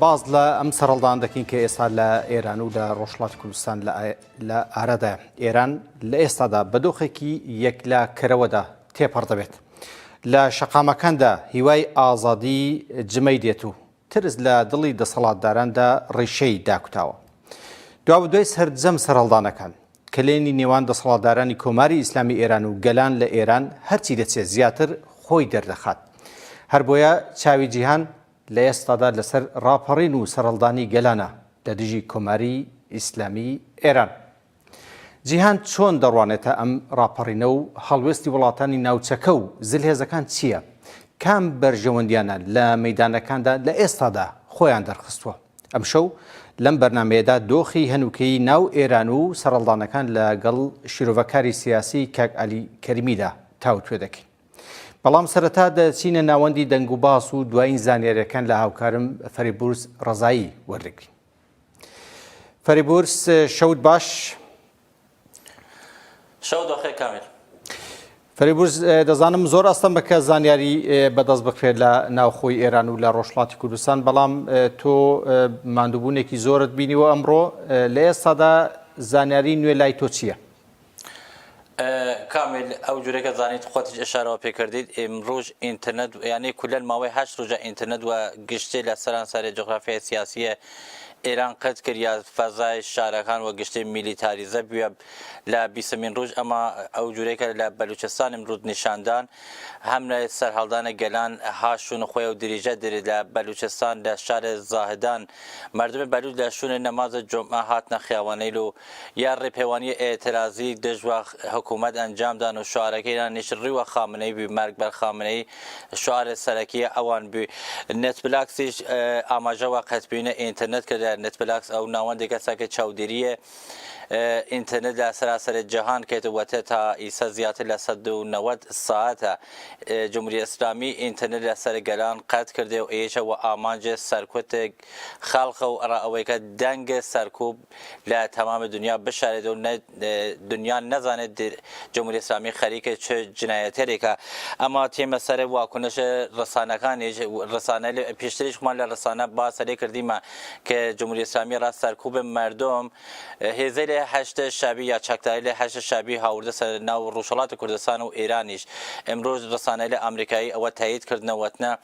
باس لە ئەم سەرەڵدان دەکەین کە ئێستا لە ئێران و لە ڕۆژڵاتی کوردستان لە ئارادە ئێران لە ئێستادا بە دۆخێکی یەکلا کەرەوەدا تێپەڕ دەبێت لە شەقامەکاندا هیوای ئازادی جمەی دێت و ترس لە دڵی دەسەڵاتداراندا ڕیشەی داکوتاوە دوا دوای سەرجەم سەرهەڵدانەکان کلێنی نێوان دەسەڵاتدارانی کۆماری ئیسلامی ئێران و گەلان لە ئێران هەرچی دەچێت زیاتر خۆی دەردەخات هەر بۆیە چاوی جیهان لە ئێستادا لەسەر ڕاپەڕین و سەرهەڵدانی گەلانە لە دژی کۆماری ئیسلامیی ئێران. جیهان چۆن دەڕوانێتە ئەم ڕاپەڕینە و هەڵوێستی وڵاتانی ناوچەکە و زلهێزەکان چییە؟ کام بەرژەوەندیانە لە مەیدانەکاندا لە ئێستادا خۆیان دەرخستووە؟ ئەمشەو لەم بەرنامەیەدا دۆخی هەنووکەیی ناو ئێران و سەرهەڵدانەکان لەگەڵ شیرۆڤەکاری سیاسی کاک عەلی کەریمیدا تاوتوێ دەکەین. بەڵام سەرەتا دەچینە ناوەندی دەنگ و باس و دوایین زانیاریەکان لە هاوکارم فەریبورس ڕزایی وەردەگرین فەریبورس شەوت باش شەوت بەخێ کامیل فەریبورز دەزانم زۆر ئەستەم بەکە زانیاری بەدەست بکرێت لە ناوخۆی ئێران و لە ڕۆژڵاتی کوردستان بەڵام تۆ مادووبوونێکی زۆرت بینیوە ئەمڕۆ لە ئێستادا زانیاری نوێ لای تۆ چییە؟ کامیل ئەو جورە کە زانیت خۆتیش ئشارەوە پێ کردیت ئمڕوژ ئینتەرنەت یانەی کولەن ماوەی هەشت روژە ئینتەرنەت وە گشتێ لە سەرانسارێ جوغرافیای سیاسیێ ئێران قەت کریا فەزای شارەکان وە گشتێ میلیتاریزە بویە لە بیسەمین روژ ئەما ئەو جورەی کە لە بەلوچستان ئمڕوو نیشاندان هەم لە سەرهەڵدانە گەلان ها شوون خوەیەو دریژە دریت لە بەلوچستان لە شارێ زاهدان مەردمێ بەلوچ لە شوونێ نەمازێ جومعە هاتنە خیاوەنەیل و یا ڕێپێوانی ئێترازی دژوە حکوومەت ئەنجام دان و شعارەکەیان نیشتڕیوە خامنەی بی مەرگ بەر خامنەی شعارێ سەرەکیە ئەوان بی نێتپلاکسیش ئاماژەوە قەتبینە ئینترنت کردە نێتپلاکس ئەو ناوەندی کەسەکە چاودێریە ئینترنت لە سەراسەری جەهان کێت وەتە تا ئیسە زیاتر لە 1990 ساعتە جمهوری ئسلامی ئینترنت لە سەر گەلان قەت کردێ و ئێشە و ئامانجێ سەرکوتێک خەڵقە و ئەڕا ئەوەیکە دەنگێ سەرکوب لە تەمام دنیا بشارێت و نە دنیا نەزانێت جمهوری اسلامی خەریکە چ جنایەتەرێکە ئەما تێمە سەر واکنش ڕسانەکانیش ڕسانە پێشتریشمان لە ڕسانە با سەرێ کردیمە کە جمهوری اسلامی ڕاست سەرکوب مردم هێزەی لە هەشت شابی یا چەکداری لە هەشت شابی هاوردە سەر ناو ڕوژهڵات کوردستان و ئێرانیش ئەمرۆژ ڕسانە لە ئەمریکایی ئەوە تایید کردنەوەتنە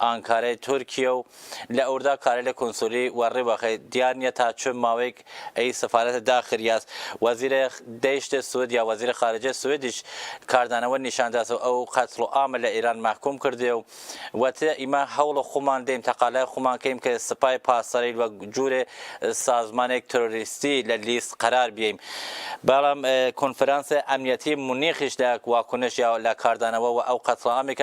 ئانکارای تورکیە و لە ئوردا کارای لە کونسولی وە ری وەخەی دیار نیە تا چ ماوەیگ ئی سفارەتە داخر یاس وەزیر دەیشت سوید یا وەزیر خارجە سویدیش کاردانەوە نیشان داس و ئەو قەتڵ و ئامە لە ئیران مەحکوم کردێ و وەتێ ئیمە هەوڵ خومان دەیم تەقالای خومان کەیم ک سپای پاسدارەیل وەک جورێ سازمانێگ ترۆریستی لە لیست قەرار بیەیم بەڵام کونفرانس ئەمنیەتی مونیخیش لە واکنش یا لە کاردانەوە وە ئەو قەتڵ ئامە ک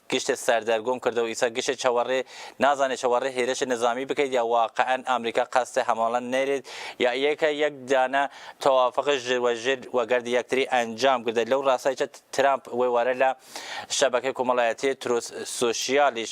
گشت سەردەر گوم کردەو ئیسە گشت چەوەڕێ نازانێ چەوەڕێ هێرش نزامی بکەیت یا واقعەن ئامریکا قەست هەمەڵە نەێرێت یا یەکە یەک دانە تەوافق ژر وە ژر وەگەرد یەکتری ئەنجام گردێت لەو ڕاسایچە ترامپ وێوارە لە شەبەکەی کومەڵایەتیێ تروس سوشیالیش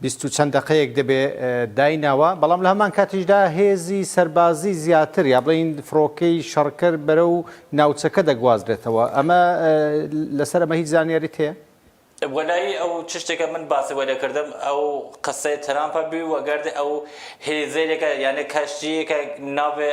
بیست و چەند دەقەیەک دەبێ دایناوە، بەڵام لە هەمان کاتیشدا هێزی سەربازی زیاتر یا بڵێین فڕۆکەی شەڕکەر بەرەو ناوچەکە دەگوازرێتەوە، ئەمە لەسەر ئەمە هیچ زانیاریت هەیە؟ وەلایی ئەو چ شتێکە من باسی بۆ لێکردم ئەو قسەی ترامپە بوی وەگەرد ئەو هیلیزەیلێکە یانێ کەشتییەکە ناوێ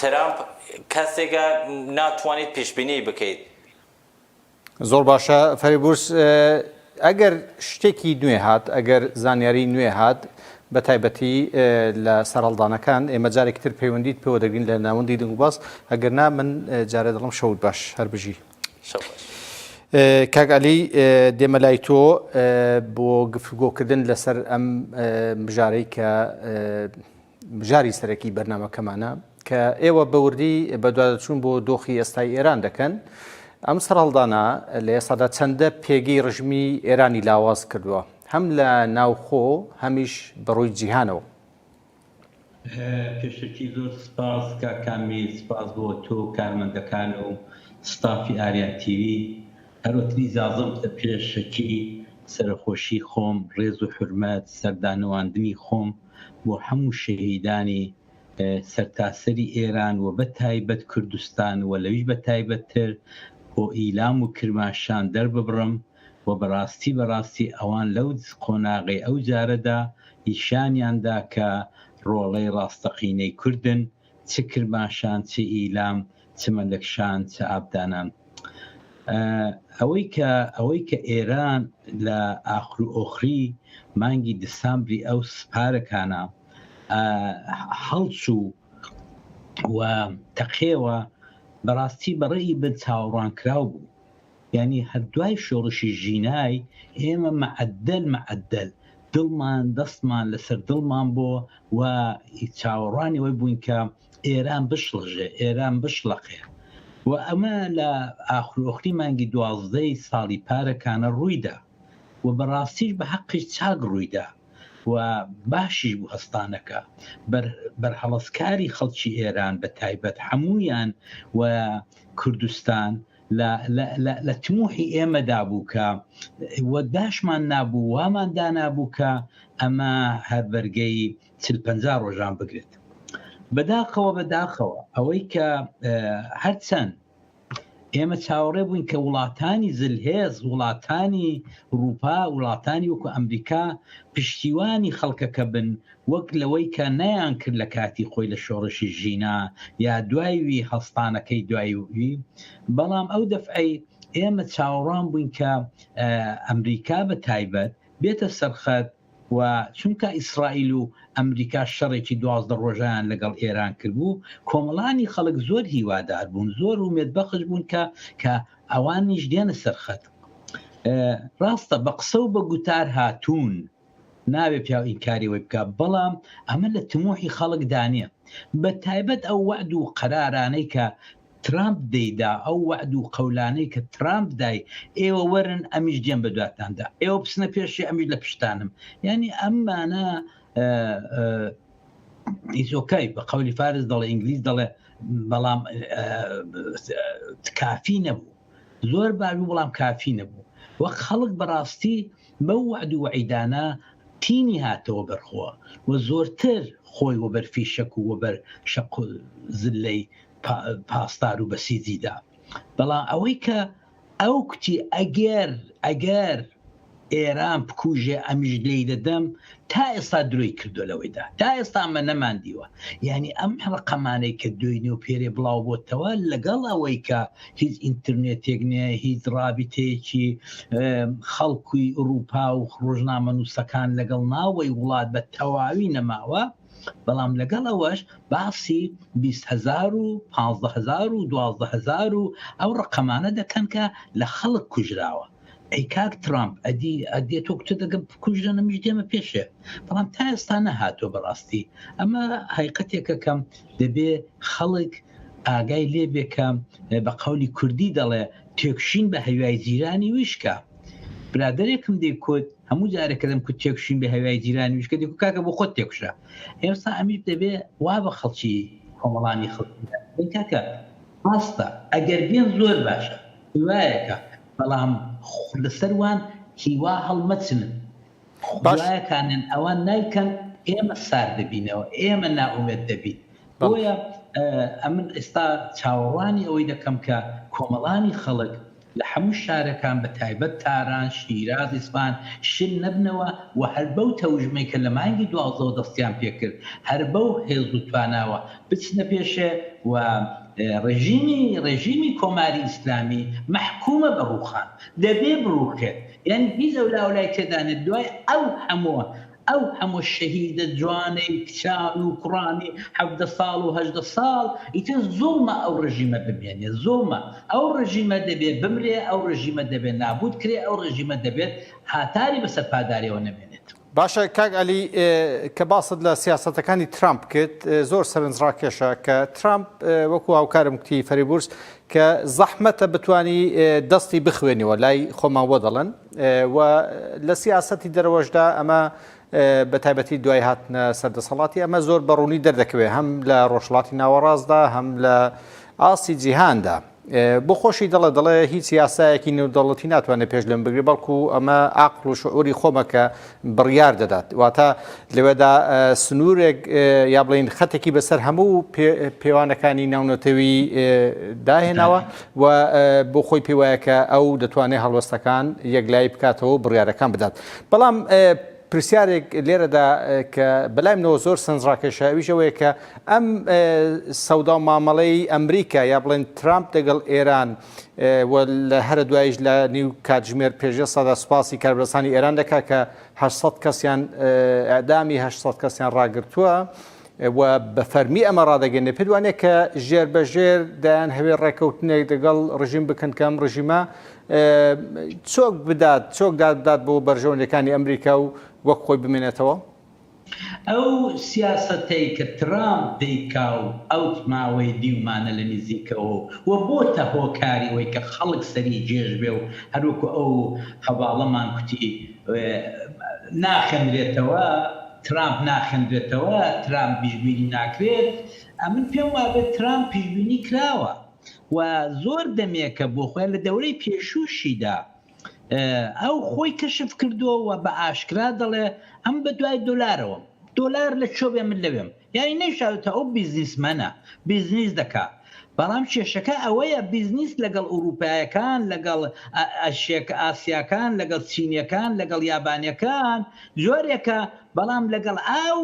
ترەمپ کەسێکە ناتوانیت پیشبینی بکەیت. زۆر باشە فەرەبورس ئەگەر شتێکی نوێ هات ئەگەر زانیاری نوێ هات بە تایبەتی لە سەرهەڵدانەکان ئێمە جارێکی تر پەیوەندیت پێوە دەگرین لە ناوەندی دەنگوباس ئەگەر نا من جارێ دڵم شەوت باش هەر بژی کاک علی دێمە لای تۆ بۆ گفتگۆکردن لەسەر ئەم بژارەی کە بژاری سەرەکی بەرنامەکەمانە کە ئێوە بە وردی بەدواداچوون بۆ دۆخی ئێستای ئێران دەکەن. ئەم سەرهەڵدانە لە ئێستادا چەندە پێگەی ڕژیمی ئێرانی لاواز کردووە هەم لە ناوخۆ هەمیش بە ڕووی جیهانەوە؟ پێشەکی زۆر سپاس کاک کامیل، سپاس بۆ تۆ و کارمەندەکان و ستافی ئاریان تیڤی. هەرۆتنی زازڵ کە پێشەکی سەرەخۆشی خۆم ڕێز و حورمەت سەردانەواندنی خۆم بۆ حەموو شەهیدانی سەرتاسەری ئێران و بە تایبەت کوردستان و لەویش بە تایبەت تر بۆ ئیلام و کرماشان دەرببڕم و بە ڕاستی بە ڕاستی ئەوان لەو قۆناغەی ئەو جارەدا نیشانیان دا کە ڕۆڵەی ڕاستەقینەی کوردن چ کرماشان چ ئیلام چ مەلەکشان چ ئابدانان ئەوەی کە ئەوەی کە ئێران لە ئاخرو ئۆخری مانگی دسامبری ئەو سپارەکانە هەڵچوو و تەقێوە بەڕاستی بەڕێی بن چاوەڕوانکراو بوو یانی هەر دوای شۆڕشی ژینای ئێمە مەعەدەل مەعەدەل دڵمان دەستمان لەسەر دڵمان بۆ و چاوەڕوانی ئەوەی بووین کە ئێران بشڵەژێ ئێران بشڵەقێ و ئەمە لە ئاخرۆخری مانگی دوازدەی ساڵی پارەکانە ڕوویدا و بەڕاستیش بە حەقی چاک ڕوویدا و باشیش بوو هەستانەکە بەرهەڵستکاری خەڵکی ئێران بە تایبەت هەمویان و کوردستان لە لە لە لە تموحی ئێمەدا بوو کە وە داشمان نابوو وامان دانابوو کە ئەمە هەر بەرگەی چل پەنجا ڕۆژان بگرێت بەداخەوە بەداخەوە ئەوەی کە هەرچەند ئێمە چاوەڕێ بووین کە وڵاتانی زلهێز وڵاتانی رووپا وڵاتانی وەکو ئەمریکا پشتیوانی خەڵکەکە بن وەک لەوەی کە نەیانکرد لە کاتی خۆی لە شۆڕشی ژینا یا دوای وی هەڵستانەکەی دوای وی، بەڵام ئەو دەفعەی ئێمە چاوەڕوان بووین کە ئەمریکا بە تایبەت بێتە سەر خەت و چونکا ئیسرائیل و ئەمریکا شەڕێکی دوازدە ڕۆژەیان لەگەڵ ئێران کردبوو کۆمەڵانی خەڵک زۆر هیوادار بوون زۆر ومێد بەخش بوون کە کە ئەوانیش دێنە سەر خەت ڕاستە بە قسە و بە گوتار هاتوون نابێ پیاو ئینکاری ئەوەی بکا بەڵام ئەمە لە تموحی خەڵک دانیە بە تایبەت ئەو وەعد و قەرارانەی کە ترامپ دەیدا ئەو وەعد و قەولانەی کە ترامپ دای ئێوە وەرن ئەمیش دێم بە دواتاندا ئێوە بچنە پێشی ئەمیش لە پشتانم یعنی ئەممانە ئیزۆکای بە قەولی فارس دەڵێ ئینگلیز دەڵێ بەڵام کافی نەبوو زۆر باش بوو بەڵام کافی نەبوو وە خەڵک بەڕاستی بەو وەعد و وەعیدانە تینی هاتەوە بەر خۆ وە زۆرتر خۆی وەبەر فیشەک و وەبەر شەق و زلەی پاسدار و بەسیجی دا بەڵام ئەوەی کە ئەو کوتی ئەگەر ئەگەر ئێران بکوژێ ئەمیش لێی دەدەم تا ئێستا درۆی کردو لەوەیدا تا ئێستا ئەمە نەمان دیوە یعنی ئەم ڕقەمانەی کە دوێی نێو پێرێ بڵاو بۆتەوە لەگەڵ ئەوەی کە هیچ ئینتررنێتێک نێ هیچ ڕابیتەیەکی خەڵکوی ئوروپا و ڕۆژنامە نووسەکان لەگەڵ ناوەی وڵات بە تەواوی نەماوە بەڵام لەگەڵ ئەوەش باسی 20هزار و 15هزار و 12هزار و ئەو ڕقەمانە دەکەن کە لە خەڵک کوژراوە ئەی کاک ترامپ ئەدی ئەدێ تۆ کچە دەگەم بکوژە نەمیش دێمە پێشێ بەڵام تا ئێستا نەهاتۆ بەڕاستی ئەمە هایقەتێکەکەم دەبێ خەڵک ئاگای لێبێکە بە قولی کوردی دەڵێ تێکشین بە هەوای جیرانی ویشکە برادێکم دەیکوت هەموو جارەکەدەم کو تێکشین بە هەوای جیرانی ویشکە دەکو کاکە بۆ خۆت تێکشە ئێستا ئەمیر دەبێ وا بە خەڵکی کۆمەڵانی خەڵکی کاکە ڕاستە ئەگەر بێن زۆر باشە هیوایەکە بەڵام لەسەر وان هیوا هەڵمەچن باش. خوایە کانێن ئەوان نایکەن ئێمە سار دەبینەوە ئێمە نائومێد دەبین بەڵێ. بۆیە اه، ئەمن ئێستا چاوەڕوانی ئەوەی دەکەم کە کۆمەڵانی خەڵک لە هەموو شارەکان بە تایبەت تاران، شیراز، ئیسفەهان شل نەبنەوە و هەر بەو تەوژمەی کە لە مانگی دوازدەوە دەستیان پێکرد هەر بەو هێز و تواناوە بچنە پێشێ و ڕێژیمی ڕێژیمی کۆماری ئیسلامی مەحکومە بە ڕووخان دەبێ بڕووخێت یانی هیچ ئەو لاو لای تێدا نێت دوای ئەو هەموو ئەو هەموو شەهیدە جوانەی کچان و کوڕانی حەڤدە ساڵ و هەژدە ساڵ ئیتر زوڵمە ئەو ڕێژیمە بمێنێت زوڵمە ئەو ڕێژیمە دەبێ بمرێ ئەو ڕێژیمە دەبێ نابووت کرێ ئەو ڕێژیمە دەبێت هاتاری بەسەر پاداریەوە نەمێنێت. باشە کاک عەلی کە باست لە سیاسەتەکانی ترامپ کرد زۆر سەرنجڕاکێشە کە ترامپ وەکو هاوکارم کوتی فەریبورس کە زەحمەتە بتانی دەستی بخوێنیەوە لای خۆمان وە دەڵێن و لە سیاسەتی دەرەوەشدا ئەمە بە تایبەتی دوای هاتنە سەردەسەڵاتی ئەمە زۆر بەڕوونی دەردەکەوێت هەم لە ڕۆژڵاتی ناوەڕاستدا هەم لە ئاستی جیهاندا بۆ خۆشی دەڵێ دەڵێ هیچ یاسایەکی نێودەوڵەتی ناتوانێت پێش لەم بگرێت بەڵکو ئەمە ئاقل و شعوری خۆمەکە بڕیار دەدات واتە لەوێدا سنوورێک یا بڵین خەتێکی بەسەر هەموو پێوانەکانی ناونەتەوی داهێناوە و بۆ خۆی پێوایەکە ئەو دەتوانێت هەڵوەستەکان یەکلایی بکاتەوە بڕیارەکان بدات بەڵام پرسیارێک لێرەدا کە بەلایمنەوە زۆر سەنجڕاکێشە ئەویش ئەوەیە کە ئەم سەودا و مامەڵەی ئەمریکا یا بڵێن ترامپ دەگەڵ ئێران لە هەرە دوایش لە نیو کاتژمێر پێشێ سەدا سوپاسی کاربەسانی ئێران دەکا کە 600 کەسیان ئەدامی 600 کەسیان ڕاگرتووە. و بە فەرمی ئەمە ڕدەگەێنێ پێدوانێت کە ژێر بە ژێر دایان هەوێ ڕێککەوتنێک دەگەڵ ڕژیم بکەن کەم ڕژیمە چۆک بدات، چۆک دادبدات بۆ بەرژەوەندیەکانی ئەمریکا و وەک خۆی بمێنێتەوە؟ ئەو سیاسەتەی کە ترامپ دەیکا و ئەوت ماوەی دیومانە لە نیزیکەوە و بۆتە هۆکاری ئەوەی کە خەڵک سەری جێژ بێ و هەروەکو ئەو هەڤاڵەمان کوتی ناخێندرێتەوە، ترامپ ناخێندرێتەوە، ترامپ بیشبینی ناکرێت، ئەمن پێم وابێت ترامپ پیشبینی کراوە. و زۆر دەمێکە بۆ خۆیان لە دەورەی پێشووشیدا ئەو خۆی کەشف کردووە و بە ئاشکرا دەڵێ ئەم بە دوای دۆلارەوەم دۆلار لە چۆبێ من لەوێم یانی نەیشاوێتە ئەو بیزنیسمەنە بیزنیس دەکا بەڵام کێشەکە ئەوەیە بیزنیس لەگەڵ ئوروپایەکان لەگەڵ ئەشێک ئاسیاکان لەگەڵ چینیەکان لەگەڵ یابانەکان جۆرێکە بەڵام لەگەڵ ئاو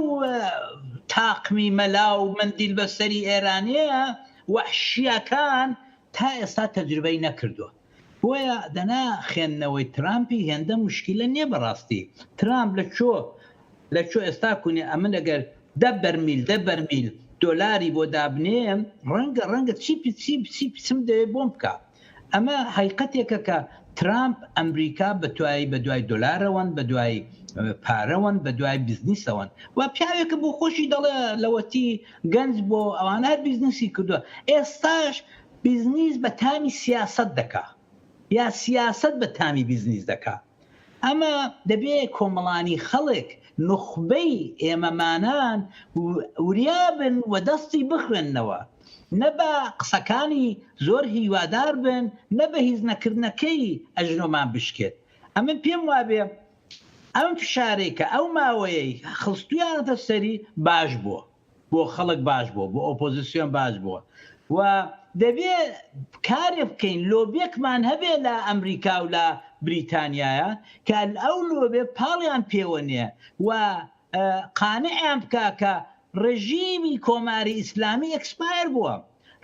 تاقمی مەلا و مندیل بەسەری ئێرانەیە وەحشیەکان تا ئێستا تەجروبەی نەکردوە بۆیە دەنا خێندنەوەی ترامپی هێندە موشکیلە نیە بەڕاستی ترامپ لە چۆ لە چۆ ئێستا کونێ ئەمن ئەگەر دە بەرمیل دە بەرمیل دۆلاری بۆ دابنێم ڕەنگە ڕەنگە چی چی چی چیم دەوێ بۆم بکا. ئەمە هەیقەتێکە کە ترامپ ئەمریکا بەتوای بەدوای دۆلارەوەن بەدوای پارەوەن بەدوای بزنیسەوەن و پیاوێکە بۆ خۆشی دەڵێ لەوەتی گەنج بۆ ئەوان هەر بیزنسی کردووە ئێستاش بیزنیس بە تامی سیاست دەکا یا سیاست بە تامی بیزنیس دەکا ئەمە دەبێ کۆمەڵانی خەڵک، نوخبەی ئێمەمانان وریا بن و دەستی بخوێننەوە. نە بە قسەکانی زۆر هیوادار بن، نە بە هیچ نەکردنەکەی ئەژنۆمان بشکێت. ئەمن پێم وابێ ئەم فشارەی کە ئەو ماوەیەی خستوویانەتە سەری باش بووە. بۆ خەڵک باش بووە، بۆ ئۆپۆزیسیۆن باش بووە و دەبێ کارێ بکەین لۆبێکمان هەبێ لە ئەمریکا و لە بریتانیایا کە ئەو لۆبێ پاڵیان پێوە نێ و قانعیان بکا کە ڕێژیمی کۆماری ئیسلامی ئێکسپایەر بووە.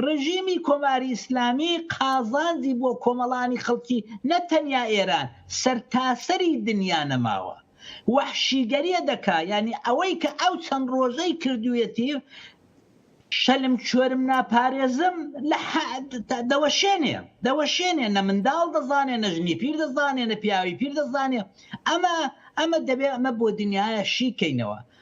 ڕژیمی کۆماری ئیسلامی قازانجی بۆ کۆمەڵانی خەڵکی نە تەنیا ئێران سەرتاسەری دنیا نەماوە وەحشیگەریە دەکا یانی ئەوەی کە ئەو چەند ڕۆژەی کردویەتی شەلم چۆرم ناپارێزم لە دەوەشێنێ دەوەشێنێ نە منداڵ دەزانێ نە ژنی پیر دەزانێ نە پیاوی پیر دەزانێ ئەمە ئەمە دەبێ ئەمە بۆ دنیاە شیکەینەوە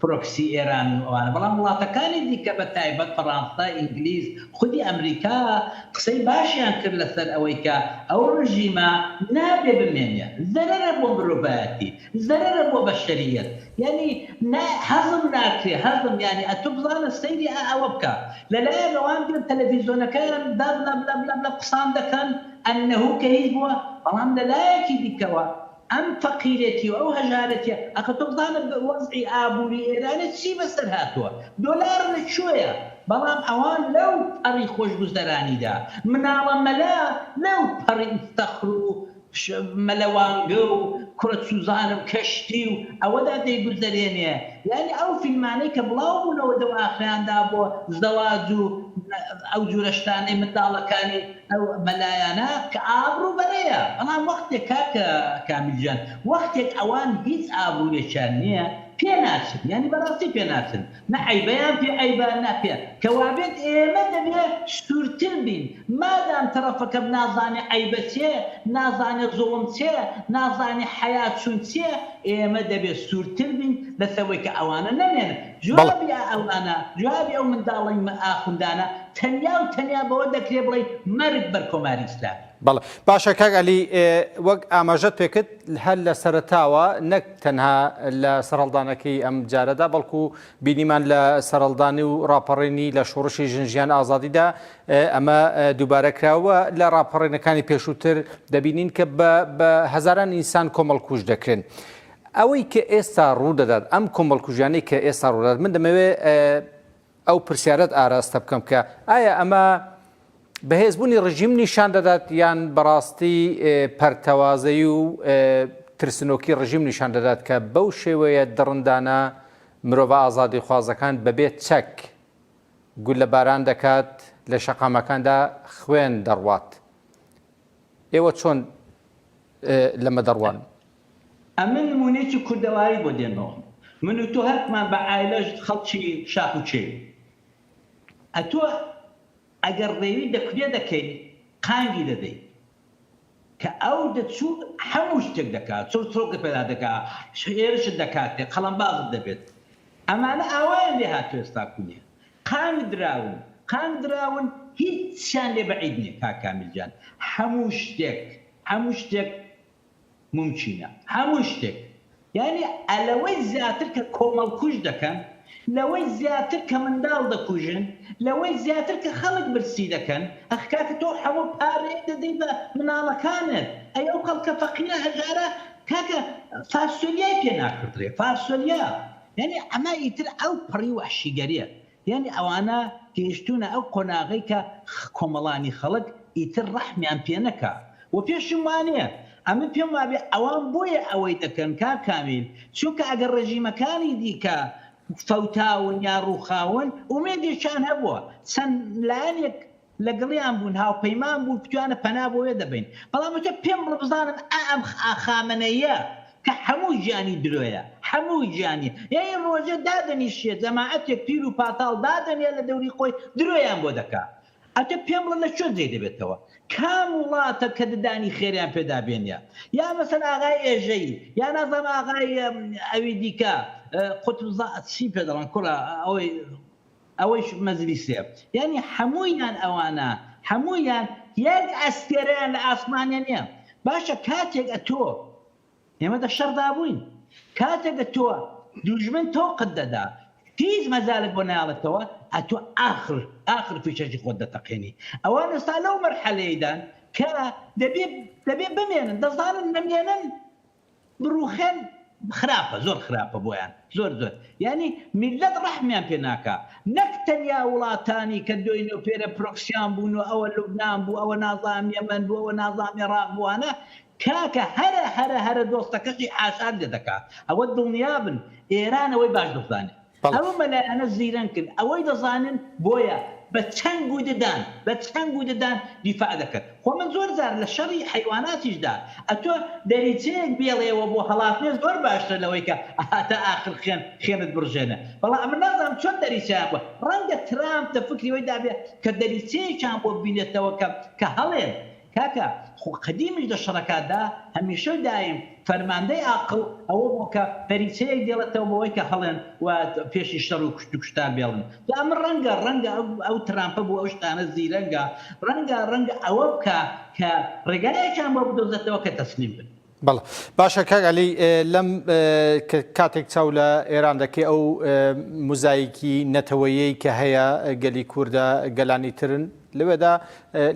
پرۆکسی ئێران و ئەوانە بەڵام وڵاتەکانی دیکە بە تایبەت فەڕانسە، ئینگلیز، خودی ئەمریکا قسەی باشیان کرد لەسەر ئەوەی کە ئەو ڕژیمە نابێ بمێنێ زەرەرە بۆ مرۆڤایەتی زەرەرە بۆ بەشەریەت یانی نا هەزم ناکرێ هەزم یانی ئەتو بزانە سەیری ئا ئەوە بکە لە لایەک ئەوان دێن تەلەفیزۆنەکەیان دا بلە بلە بلە بلە قسان دەکەن ئەنەهو کە هیچ بووە بەڵام لە لایەکی دیکەوە ئەم فەقیرێتی و ئەو هەژارێتیە ئەخە تۆ بزانە وەزعی ئابوری ئێرانێ چی بەسەر هاتوە دۆلار لە کوێیە بەڵام ئەوان لەو پەڕی خۆشگوزەرانیدا مناڵە مەلا لەو پەڕی فەخر و مەلەوانگە و کوڕە چوزان و کەشتی و ئەوەدا دەیگوزەرێنێ یانی ئەو فیلمانەی کە بڵاو بونەوە دەوئاخرەیان دابۆ زەواج و ئەو جورە شتانەی منداڵەکانی ئەو مەلایانە کە ئابڕو بەرەیە بەڵام وەختێک کاکە کامیل جان وەختێک ئەوان هیچ ئابڕویەکیان نیە پێ ناچن یانی بەراستی پێ ناچن نە عەیبەیان پێ عەیبە نە پێ کە وابێت ئێمە دەبێ سورتر بین مادام تەرەفەکەم نازانێ عەیبە چێ نازانێ زوڵم چێ نازانێ حەیا چون چیە ئێمە دەبێ سورتر بین لەسەر وەی کە ئەوانە نەمێنن بەڵێ. جوابی ئەوانە جوابی ئەو منداڵەی ئاخوندانە تەنیا و تەنیا بەوە دەکرێ بڵێین مەرگ بەر کۆماری ئیسلامی. بەڵێ. باشە کاک عەلی، وەک ئاماژەت پێ کرد هەر لە سەرەتاوە نەک تەنها لە سەرهەڵدانەکەی ئەم جارەدا بەڵکو بینیمان لە سەرهەڵدانی و ڕاپەڕینی لە شۆڕشی ژن ژیان ئازادیدا ئەمە دووبارە کرا و لە ڕاپەڕینەکانی پێشووتر دەبینین کە بە هەزاران ئینسان کۆمەڵکوژ دەکرێن. ئەوەی کە ئێستا ڕوو دەدات، ئەم کۆمەڵکوژیانەی کە ئێستا ڕوو دەدات من دەمەوێ ئەو پرسیارەت ئاراستە بکەم کە ئایا ئەمە بەهێزبوونی ڕژیم نیشان دەدات یان بەڕاستی پەرتەوازەی و ترسنۆکی ڕژیم نیشان دەدات کە بەو شێوەیە دڕندانە مرۆڤە ئازادی خوازەکان بەبێت چەک گولە باران دەکات لە شەقامەکاندا خوێن دەڕوات ئێوە چۆن لەمە دەڕوان ئەمن نمونەیەکی کوردەواری بۆ دێنمەوە من و تۆ هەرکمان بە عایلەش خەڵکی شاخ و کێوین ئەتۆ ئەگەر ڕێوی دەکونێ دەکەی قانگی دەدەی کە ئەو دەچوو هەموو شتێک دەکا چڕچڕۆکت پێدا دەکا هێرشت دەکاتێ قەڵەمبازت دەبێت ئەمانە ئاوایان لێ هاتووە ئێستا کونێ قانگ دراون قانگ دراون هیچیان لێ بەعید نیە کاک کامیل گیان هەموو شتێک هەموو شتێک مومکینە هەموو شتێک یانی ئەلەوەی زیاتر کە کۆمەڵکوژ دەکەن لەوەی زیاتر کە منداڵ دەکوژن لەوەی زیاتر کە خەڵک برسی دەکەن ئەخ کاکە تۆ هەموو پارەیەک دەدەی بە مناڵەکانت ئەی ئەو خەڵکە فەقیرە هەژارە کاکە فاسۆلیای پێ ناکڕدرێ فاسۆلیا یانی ئەمە ئیتر ئەو پەڕی وەحشیگەریە یانی ئەوانە گەیشتوونە ئەو قۆناغەی کە کۆمەڵانی خەڵک ئیتر ڕەحمیان پێ نەکا و پێشم وانیە ئەمن پێم وابێ ئەوان بۆیە ئەوەی دەکەن کاک کامیل چونکە ئەگەر ڕێژیمەکانی دیکە فەوتاون یا ڕووخاون ئومێدێکیان هەبووە چەند لایەنێک لەگەڵیان بوون هاوپەیمان بوون کوتیانە پەنا بۆێ دەبەین بەڵام وتە پێم بڵە بزانم ئا ئەم خامەنەییە کە حەموو ژیانی درۆیە حەموو ژیانی یەی ڕۆژێ دادەنیشێ جەماعەتێ پیر و پاتاڵ دادەنێ لە دەوری خۆی درۆیان بۆ دەکا ئەتە پێم بڵە لە کوێ جێ دەبێتەوە کام وڵاتە کە ددانی خێریان پێ دابێنێ یا مەسەن ئاغای ئێژەیی یا نازام ئاغای ئەوی دیکە قوتبزا چی پێ دەڵێن کوڕە ئەوەی ئەوەیش مەجلیسێ یانی حەموویان ئەوانە حەموویان یەک ئەستێرەیان لە ئاسمانێ نیە باشە کاتێک ئەتۆ ئێمە دە شەڕدا بووین کاتێک ئەتۆ دوژمن تۆقت دەدا هیچ مەجالت بۆ نایەڵێتەوە ئەتۆ ئاخر ئاخر فیشەکی خۆت دەتەقێنی ئەوان ئێستا لەو مەرحەلەیەیدان کە دەبێ دەبێ بمێنن دەزانن نەمێنن بڕوخێن خراپە زۆر خراپە بۆیان زۆر زۆر یانی میلەت ڕەحمیان پێ ناکا نەک تەنیا وڵاتانی کە دۆینۆ پێرە پرۆکسیان بوون و ئەوە لوبنان بوو ئەوە نازام یەمەن بوو ئەوە نازام ئێڕاق بوو ئانە کاکە هەرە هەرە هەرە دۆستەکەشی حاشات لێ دەکا ئەوە دڵنیابن ئێران ئەوەی باش دەزانێ ئەو مەلایانە زیرەنکن ئەوەی دەزانن بۆیە بە چەنگ و ددان بە چەنگ و ددان دیفاع دەکەن خۆ من زۆر جار لە شەڕی حەیواناتیشدا ئەتۆ دەریچەیەک بێڵێوە بۆ هەڵاتنێ زۆر باشترە لەوەی کە هاتا ئاخر خوێن خوێنت بڕژێنێ بەڵام ئەمن نازانم چۆن دەریچەیان بووە ڕەنگە ترامپ لە فکری وەی دابێ کە دەریچەیەکیان بۆ بینێتەوە کە کە هەڵێن کاکە خۆ قەدیمیش دە شەڕەکاتدا هەمیشە و دایم فەرماندەی ئاقڵ ئەوە بوو کە پەریچەیەک دێڵێتەوە بەوەی کە هەڵێن و پێشی شەڕ و کوشت و کوشتار بێڵن جا ئەمە ڕەنگە ڕەنگە ئەو ترامپە بوو ئەو شتانە زیرەنگە ڕەنگە ڕەنگە ئەوە بکا کە ڕێگایەکیان بۆ بدۆزێتەوە کە تەسلیم بن. بەڵێ باشە کاک عەلی لەم کاتێک چاو لە ئێران دەکەی ئەو مزایکی نەتەوەیەی کە هەیە گەلی کووردە گەلانی ترن لەوێدا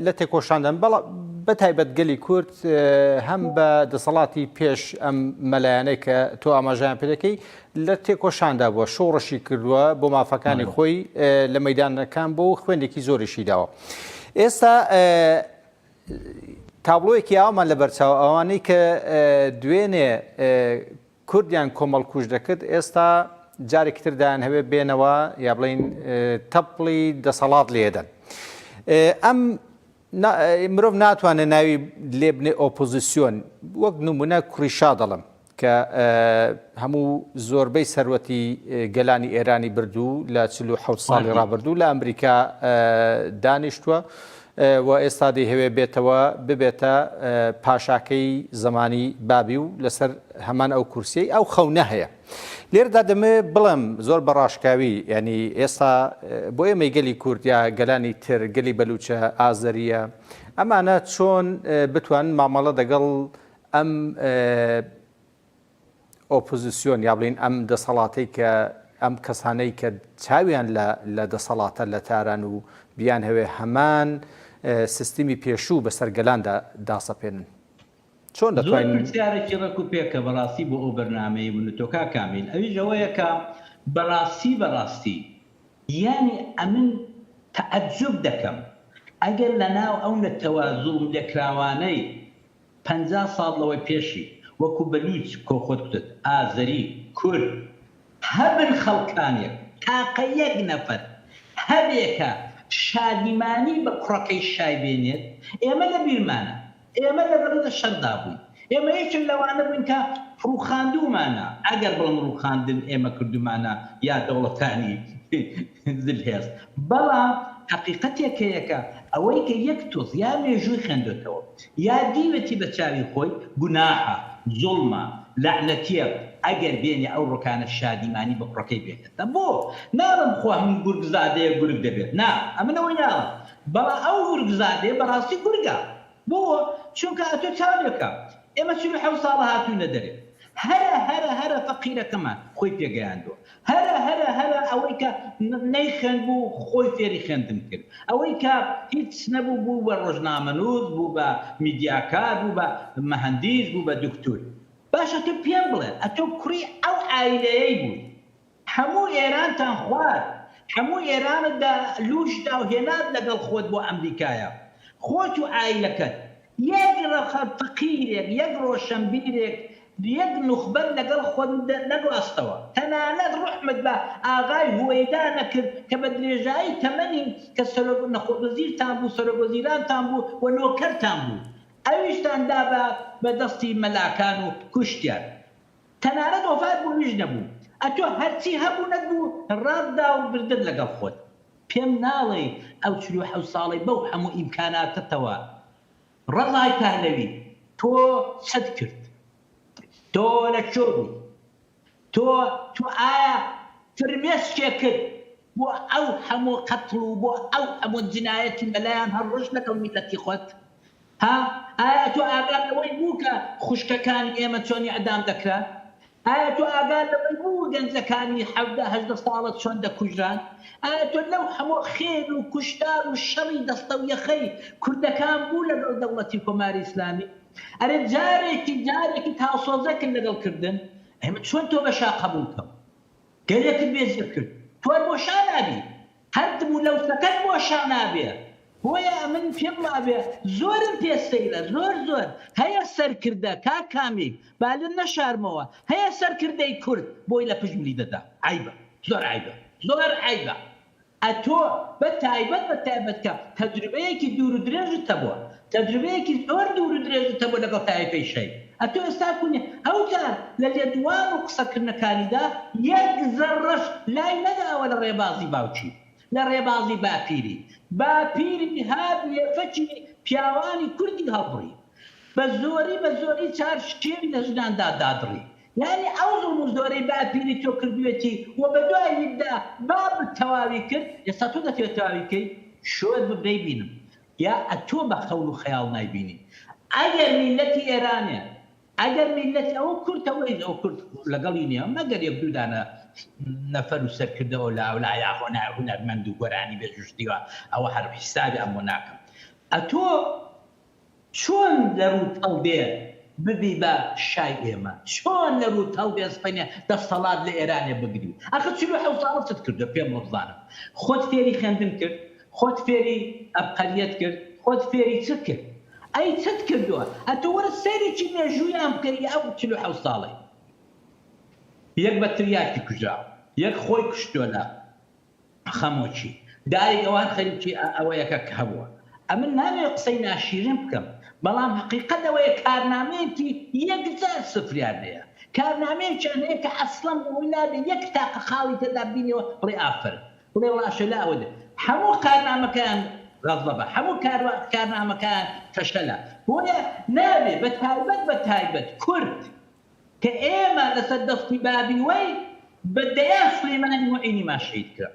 لە تێکۆشاندن بەڵ بە تایبەت گەلی کورد هەم بە دەسەڵاتی پێش ئەم مەلایەنەی کە تۆ ئاماژیان پێەکەی لە تێکۆشاندا بووە شۆڕشی کردووە بۆ مافەکانی خۆی لە مەدانەکان بۆ خوێندێکی زۆریشی داوە ئێستا تابڵۆیەکی ئاوامان لەبەرچاوە، ئەوانەی کە دوێنێ کوردیان کۆمەڵکوژ دەکرد، ئێستا جارێکی تر دەیانهەوێت بێنەوە یا بڵێین تەپڵی دەسەڵات لێدەن. ئەم مرۆڤ ناتوانێت ناوی لێبنێت ئۆپۆزیسیۆن، وەک نموونە کوڕی شا دەڵێم، کە هەموو زۆربەی سەروەتی گەلانی ئێرانی برد و لە چل و حەوت ساڵی ڕابردوو لە ئەمریکا دانیشتووە و ئێستا دەیهەوێ بێتەوە ببێتە پاشاکەی زمانی بابی و لەسەر هەمان ئەو کورسیی ئەو خەونە هەیە لێردا دەمێ بڵم زۆر بەڕاشکاوی ینی ئێستا بۆ ئێمەی گەلی کوردیا گەلانی تر گەلی بەلوچە ئازەریە ئەمانە چۆن بتوان مامەڵە دەگەڵ ئەم ئۆپۆزسیۆن یا بڵێین ئەم دەسەڵاتەی کە ئەم کەسانەی کە چاویان لە دەسەڵاتە لە تاران و بیانهەوێ هەمان سیستمی پێشوو بەسەر گەلاندا داسەپێنن چۆن دەتوانین؟ زۆر پرسیارێکی ڕێک و پێکە بەڕاستی بۆ ئەو بەرنامەی ونت تۆ کاک کامیل، ئەویش ئەوەیە کە بەڕاستی بەڕاستی یانی ئەمن تەعەجوب دەکەم ئەگەر لەناو ئەو نەتەوە زوڵم لێکراوانەی، پەنجا ساڵ لەوەی پێشی وەکو بەلووچ کۆ خۆت کوتت ئازەری، کورد، هەبن خەڵکانێک تاقە یەک نەفەر هەبێ کە شادیمانی بە کوڕەکەی شای بێنێت ئێمە لە بیرمانە ئێمە لە بەرە لە شەردا بووین ئێمە یەکێک لەوانە بووین کە ڕووخاندوومانە ئەگەر بڵێم ڕووخاندن ئێمە کردوومانە یا دەوڵەتانی زل هێز بەڵام حەقیقەتێک هەیە کە ئەوەی کە یەک تۆز یا مێژووی خوێندۆتەوە یا دیوێتی بە چاوی خۆی گوناحە، زوڵمە، لەعنەتیە، ئەگەر بێنێ ئەو ڕکانە شادیمانی بە کوڕەکەی بێنێتە بۆ؟ ناڵێم خۆ هەموو گورگ زادەیەک گورگ دەبێت نا ئەمن ئەوەی ناڵێم بەڵا ئەو گورگ زادەیە بەڕاستی گورگە بۆ؟ چونکە ئەتۆ چاولێکە ئێمە چل و حەوت ساڵە هاتووینە دەرێ هەرە هەرە هەرە فەقیرەکەمان خۆی پێگەیاندووە هەرە هەرە هەرە ئەوەی کە نەیخوێندبوو خۆی فێری خوێندن کرد ئەوەی کە هیچ نەبوو بوو بە ڕۆژنامەنووس بوو بە میدیاکار بوو بە مەهەندیس بوو بە دوکتور باشە تۆ پێم بڵێ ئەتۆ کوڕی ئەو عایلەیەی بووی هەموو ئێرانتان خوارد هەموو ئێرانت بە لووشدا و هێنات لەگەڵ خۆت بۆ ئەمریکایا خۆت و عایلەکەت یەک رەقە فەقیرێک، یەک رۆشەنبیرێک، یەک نوخبەت لەگەڵ خۆت نەگواستەوە. تەنانەت روحمت بە ئاغای هوەیدا نەکرد کە بە درێژایی تەمەنی کە سەرۆک نەخۆ وەزیرتان بوو، سەرۆک وەزیرانتان بوو و نۆکەرتان بوو، ئەویشتان دا بە دەستی مەلاکان و کوشتیان. تەنانەت وەفات بوویش نەبوو ئەتۆ هەرچی هەبوونت بوو ڕات دا و بردت لەگەڵ خۆت پێم ناڵێی ئەو چل و حەوت ساڵەی بەو هەموو ئیمکاناتەتەوە ڕەزای پەهلەوی تۆ چت کرد تۆ لە کوێ بووی تۆ تۆ ئایا فرمێسکێکت بۆ ئەو هەموو قەتڵ و بۆ ئەو هەموو جنایەتی مەلایان هەڵڕشت لەگەڵ میلەتی خۆت؟ ها؟ ئایا تۆ ئاگات لەوەی بوو کە خوشکەکانی ئێمە چۆن ئیعدام دەکران؟ ئایا تۆ ئاگات لەوەی بوو گەنجەکانی حەڤدە هەژدە ساڵە چۆن دەکوژران؟ ئایا تۆ لەو هەموو خێل و کوشتار و شەڕی دەستە و یەخەی کوردەکان بوو لەگەڵ دەوڵەتی کۆماری ئیسلامی؟ ئەرێ جارێکی جارێکیت هاوسۆزەکن لەگەڵ کردن؟ ئەی من چۆن تۆ بە شا قەبوڵ کەم؟ گەلێکت بێ زێ کرد تۆر بۆ شا نابی هەر دم و لەوسەکەت بۆ شا نابێ بۆیە ئەمن پێم وابێ زۆرم پێ سەیرە زۆر زۆر هەیە سەرکردە کاک کامیل با لن نەشارمەوە هەیە سەرکردەی کورد بۆی لە پشت ملی دەدا عەیبە زۆر عەیبە زۆر عەیبە ئەتۆ بە تایبەت بە تایبەت کە تەجروبەیەکی دوور و درێژت هەبووە تەجروبەیەکی زۆر دوور و درێژت هەبووە لەگەڵ تایفەی شەی ئەتۆ ئێستا کونی ئەوجار لە لێدوان و قسە کردنەکانیدا یەک زەڕەش لای نەداوە لە ڕێبازی باوکی لە ڕێبازی باپیری باپیری هات لێفەکی پیاوانی کوردی هەڵبڕی بە زۆری بە زۆری چار شکێوی لە ژناندا دادڕی یانی ئەو زوڵم و زۆرەی باپیری تۆ کردویەتی و بەدواییتدا بابت تەواوی کرد ئێستا تۆ دەتەوێت تەواوی کەی شۆر بم نەیبینم یا ئەتۆ بە هەول و خەیاڵ نایبینی ئەگەر میلەتی ئێرانێ ئەگەر میلەتی ئەوە کورتە وەیس ئەوە کورت لەگەڵی نیە مەگەر یەک دوو دانە نەفەر و سەرکردە ئۆلا ئەولا یا هۆنا هونەرمەند و گۆرانی بێژوش دیوە ئەوە هەر حیسابی ئەم بۆ ناکەم ئەتۆ چۆن لە رووت هەڵبێ ببی بە شای ئێمە؟ چۆن لە رووت هەڵبێ سپەنێ دەستەڵات لە ئێرانێ بگری؟ ئاخر چل و حەوت ساڵە چت کردووە پێم بڵێ بزانم؟ خۆت فێری خێندن کرد؟ خۆت فێری ئەبقەریەت کرد؟ خۆت فێری چ کرد؟ ئەی چت کردووە؟ ئەتوو وەرە سەیرێکی مێژوویان بکە ی ئەو چل و حەوت ساڵەی یەک بە تریاکی کوژراوە، یەک خۆی کوشتووە لە. خەمۆکی داری ئەوان خەریکی ئەوەیە کە هەبووە. ئەمن نامەوێت قسەی ناشیرین بکەم، بەڵام هەقیقەت ئەوەیە کارنامەیەکی یەکجار سفریان هەیە. کارنامەیەکیان هەیە کە ئەسڵەن بەوەی نابێت یەک تاقە خاڵی تێدا ببینیەوە بڵێی ئافەرم، بڵێی ڕاشەلا ئەوە دێت. هەموو کارنامەکەیان غەزەبە، هەموو کارنامەکەیان فەشەلە. بۆیە نابێت، بەتایبەت بەتایبەت کورد، کە ئێمە لەسەر دەستی بابی وەی بە دەیان سلیمانی موعینیمان شەهید کرا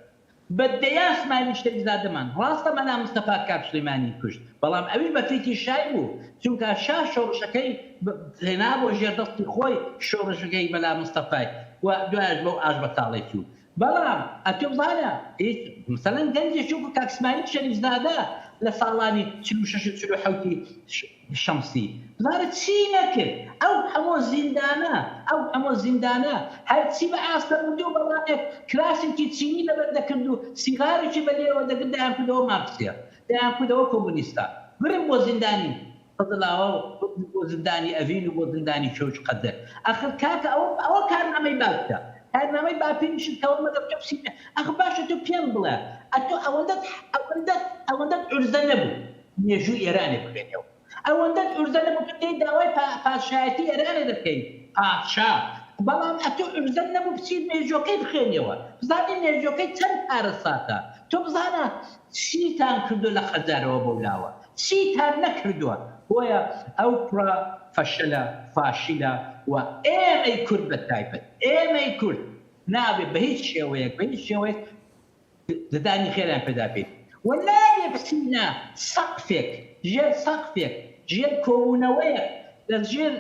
بە دەیان سمایلی شەریفزادەمان ڕاستە مەلا مستەفا کاک سلیمانی کوشت بەڵام ئەویش بە فیتی شای بوو چونکا شا شۆڕشەکەی هێنابوە ژێر دەستی خۆی شۆڕشەکەی مەلا مستەفای و دوایەش بەو ئاش بەتاڵەی چوو بەڵام ئەتۆ وانە هیچ مەسەلەن گەنجێکی وەکو کاک سمایل شەریف زادە لە ساڵانی چل و شەش و چل و حەوتی شەمسی بزانە چی نەکرد ئەو هەمۆ زیندانە ئەو هەمۆ زیندانە هەرچی بە ئاستەنگوتو بە ڵانێک کراسێکی چینی لەبەر دەکردو سیغارێکی بە لێوە دەگرت دەیانکردەوە مارکسیە دەیانکردەوە کۆمۆنیستە برن بۆ زیندانی خزر لاوە بردن بۆ زندانی ئەڤین و بۆ زندانی چەوج قەزێ ئەخر کاکە ئەوە ئەوە کارنامەی باوکتە کارنامەی باپیر نشر کەوە مەگەر تۆ پسی پێ ئەخ باشە تۆ پێم بڵێ ئەتۆ ئەوەندەت ئەوەندەت ئەوەندەت عورزە نەبوو مێژووی ئێرانێ بخوێنیەوە ئەوەندەت عورزە نەبوو تۆ دێی داوای پا پادشایەتی ئێرانێ دەکەی پادشا بەڵام ئەتۆ عورزەت نەبوو بچی مێژووەکەی بخوێنیەوە بزانی مێژووەکەی چەند کارەساتە تۆ بزانە چیتان کردوە لە خەزەرەوە بەو لاوە چیتان نەکردوە بۆیە ئەو کوڕە فەشەلە فاشیلە و ئێمەی کورد بە تایبەت ئێمەی کورد نابێ بە هیچ شێوەیەک بە هیچ شێوەیەک ددانی خێریان پێدا بین و نابێ بچینە سەقفێک ژێر سەقفێک ژێر کۆبونەوەیەک لە ژێر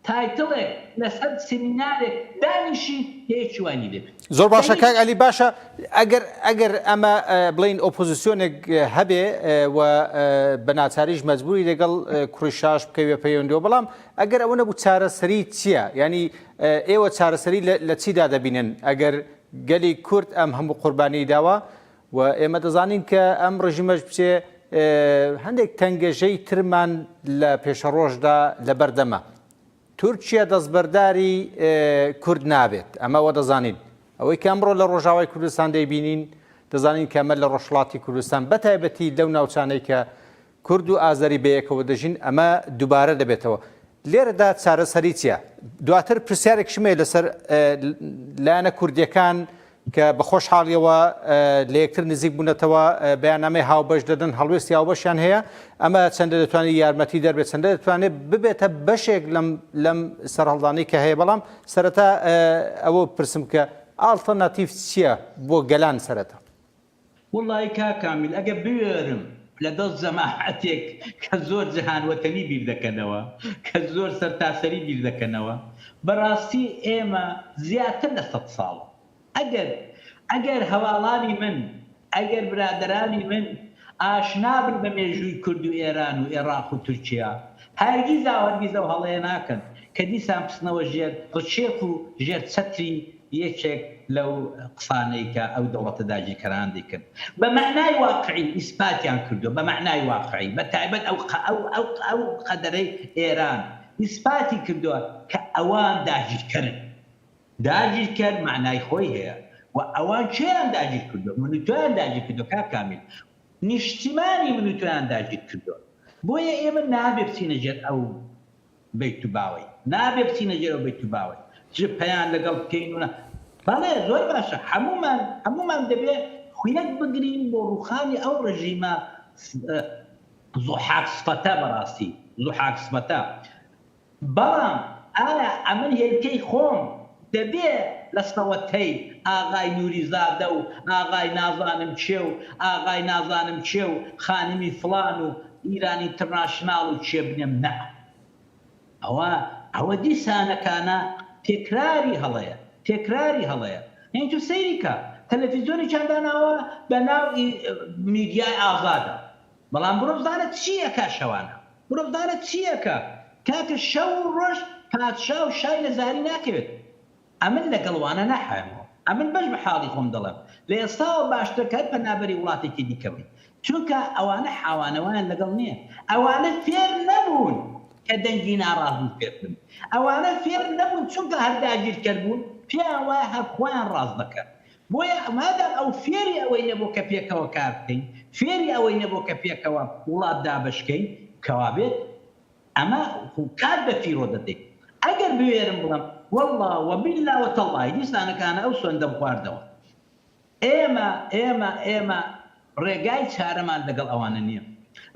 تایتڵێک لەسەر سیمینارێک دانیشی کە یەکی وای نیبێت زۆر باشە کاک ئەلی باشە ئەگەر ئەگەر ئەمە بڵین ئۆپۆزیسیۆنێک هەبێ و بە ناچاریش مەجبوری لەگەڵ کوڕی شاش بکەوێ پەیوەندەوە بەڵام ئەگەر ئەوە نەبوو چارەسەری چییە ینی ئێوە چارەسەری لە چیدا دەبینن ئەگەر گەلی کورد ئەم هەموو قوربانی داوە و ئێمە دەزانین کە ئەم ڕژیمەش بچێ هەندێک تەنگەژەی ترمان لە پێشەڕۆژدا لەبەردەمە تورکیا دەستبەرداری کورد نابێت ئەمە وە دەزانین ئەوەی کە ئەمڕۆ لە ڕۆژاوای کوردستان دەیبینین دەزانین کەمە لە ڕۆژڵاتی کوردستان بەتایبەتی لەو ناوچانەی کە کورد و ئازەری بەیەکەوە دەژین، ئەمە دوبارە دەبێتەوە. لێرەدا چارەسەری چیە؟ دواتر پرسیارێکیشم هەیە لەسەر لایەنە کوردیەکان کە بە خۆشحاڵیەوە لە یەکتر نزیک بونەتەوە، بەیاننامەی هاوبەش دەدەن، هەڵوێستی هاوبەشیان هەیە، ئەمە چەندە دەتوانێت یارمەتی دەربێت، چەندە دەتوانێت ببێتە بەشێک لەم سەرهەڵدانەی کە هەیە، بەڵام سەرەتا ئەوە بپرسم کە ئاڵتەرناتیڤ چیە بۆ گەلان سەرەتا؟ وەڵایی کاک کامیل ئەگەر بوێرم لە دەست جەماعەتێک کە زۆر جەهان وەتەنی بیر دەکەنەوە کە زۆر سەرتاسەری بیر دەکەنەوە بەڕاستی ئێمە زیاتر لە سەد ساڵ ئەگەر ئەگەر هەواڵانی من ئەگەر برادەرانی من ئاشنا بن بە مێژووی کورد و ئێران و ئێڕاق و تورکیا هەرگیزاو هەرگیز ئەو هەڵەیە ناکەن کە دیسان بچنەوە ژێر ڕکێف و ژێر چەتری یەکێک لەو قسانەی کە ئەو دەوڵەتە داگیرکەران دەیکرد بە مەعنای واقعی ئیسپاتیان کردووە، بە مەعنای واقعی بە تایبەت ئەو ئەو قەدەرەی ئێران ئیسپاتی کردووە کە ئەوان داگیرکەرن. داگیرکەر مەعنای خۆی هەیە و ئەوان کێیان داگیر کردووە؟ من و تۆیان داگیر کردووە کاک کامیل. نیشتیمانی من و تۆیان داگیر کردووە. بۆیە ئێمە نابێ بچینە ژێر ئەو بیت و باوەی نابێ بچینە ژێرەوە بیت و باوەی ژ پەیان لەگەڵ بکەین و نا بەڵێ زۆر باشە هەموومان هەموومان دەبێ خویەک بگرین بۆ ڕووخانی ئەو ڕژیمە زوحاک سفەتە بەڕاستی زوحاک سفەتە بەڵام ئایا ئەمن هێلکەی خۆم دەبێ لە سەوەتەی ئاغای نوریزادە و ئاغای نازانم کێ و ئاغای نازانم کێ و خانمی فڵان و ئیران ئینترناشناڵ و کێ بنێم نە ئەوە ئەوە دیسانەکانە تێکراری هەڵەیە تێکراری هەڵەیە یانی تۆ سەیری کە تەلەفیزۆنێکیان داناوە بە ناو ی میدیای ئازادە بەڵام بڕۆ بزانە چی ئەکا شەوانە. مرۆڤدانە چیەکە کاکە شەو و ڕۆژ پادشا و شای لە زاری ناکەوێت ئەمن لە گەڵ وانە ناحەوێمەوە ئەمن بەش بە حاڵی خۆم دەڵێم لە ئێستاوە باشترە کە هەر پەنابەری وڵاتێکی دیکە بی چونکە ئەوانە حاوانە وایان لە گەڵ نیە ئەوانە فێر نەبوون کە دەنگی ناڕازی فێر بن ئەوانە فێر نەبوون چونکە هەر داگیرکەر بوون پێیان وایە هەر خۆیان ڕاست دەکەن بۆیە مادام ئەو فێری ئەوەی نەبوو کە پێکەوە کار بکەین، فێری ئەوەی نەبوو کە پێکەوە وڵات دابەش کەین، کەوا بێت ئەمە کات بە فیڕۆ دەدەین. ئەگەر بوێرم بڵێم، وەڵڵا و بیللا و تەڵڵای دیسانەکانە ئەو سوێندەم خواردەوە. ئێمە، ئێمە، ئێمە. ڕێگای چارەمان لەگەڵ ئەوانە نییە.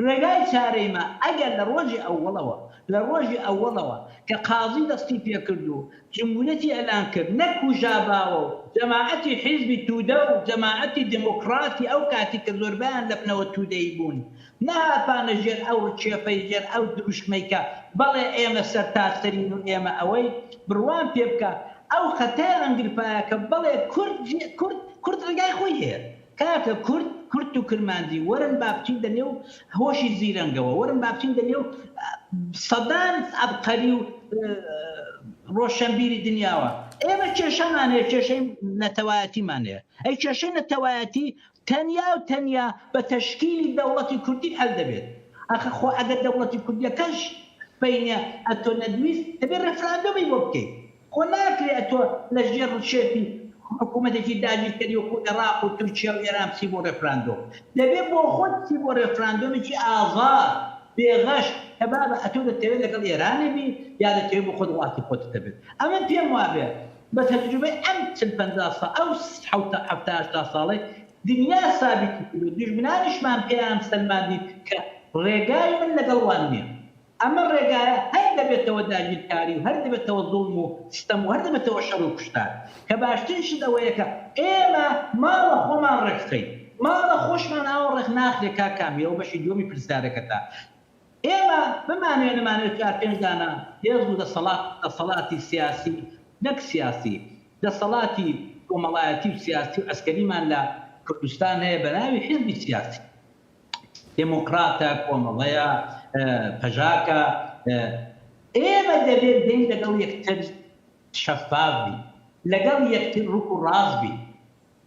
ڕێگای چارەی ما ئەگەر لە ڕۆژی ئەوەڵەوە، لە ڕۆژی ئەوەڵەوە کە قازی دەستی پێ کرد و جمهوریەتی ئێلان کرد، نەک کوژاباوە و جەماعەتی حیزبی تودە و جەماعەتی دێمۆکڕاتی ئەو کاتی کە زۆربەیان لە بنەوە تودەیی بوون، نەهاتبانە ژێر ئەو ڕکێفەی، ژێر ئەو دروشمەی کە بەڵێ ئێمە سەرتاسەرین و ئێمە ئەوەی، بڕوام پێ بکە ئەو خەتای ڕەنگرفایە کە بەڵێ کورد، کورد، کورد ڕێگای خۆی هەیە. کاکە کورد کورد و کرمانجی وەرن با بچین دە نێو هۆشی زیرەنگەوە وەرن با بچین دە نێو سەدان عەبقەری و ڕۆشەنبیری دنیاوە ئێمە کێشەمان هەیە کێشەی نەتەوایەتیمان هەیە ئەی کێشەی نەتەوایەتی تەنیا و تەنیا بە تەشکیلی دەوڵەتی کوردی حەل دەبێت ئەخە خۆ ئەگەر دەوڵەتی کوردیەکەش بینە ئەتۆ نەدویست دەبێت ڕێفراندۆمی بۆ بکەیت خۆ ناکرێ ئەتۆ لە ژێر ڕشێتی حکوومەتێکی داگیرکەری وەکوو ئێڕاق و تورکیا و ئێران بچی بۆ ڕێفراندۆم. دەبێ بۆ خۆت بچی بۆ ڕێفراندۆمێکی ئازاد، بێ غەش، کە بابە ئەتۆ دەتەوێ لەگەڵ ئێرانی بی یا دەتەوێ بۆ خۆت وڵاتی خۆتت هەبێت. ئەمن پێم وا بێ بە تەجروبەی ئەم چل پەنجا سا ئەو حەوتا حەفتا هەشتا ساڵەی دنیا سابیتی کردووە، دوژمنانیشمان پێیان سەلماندین کە ڕێگای من لەگەڵ وان نییە. ئەمە ڕێگایە هەر دەبێتەوە داگیرکاری و هەر دەبێتەوە زوڵم و ستەم و هەر دەبێتەوە شەر و کوشتار کە باشترین شت ئەوەیە کە ئێمە ماڵە خۆمان ڕێکخەین ماڵە خۆشمان ئاوا ڕێک ناخرێ کاک کامی ئەوە بەشی دووەمی پرسیارەکەتە ئێمە بمانەوێ نەمانەوێ چوار پێنج دانە هێز و دەسەڵات دەسەڵاتی سیاسی نەک سیاسی دەسەڵاتی کۆمەڵایەتی و سیاسی و عەسکەریمان لە کوردستان هەیە بەناوی حیزبی سیاسی. دێمۆکڕاتە، کۆمەڵەیە، پەژاکە، ئێمە دەبێت بێین لەگەڵ یەکتر شەفاف بین، لەگەڵ یەکتر ڕووک و ڕاست بین.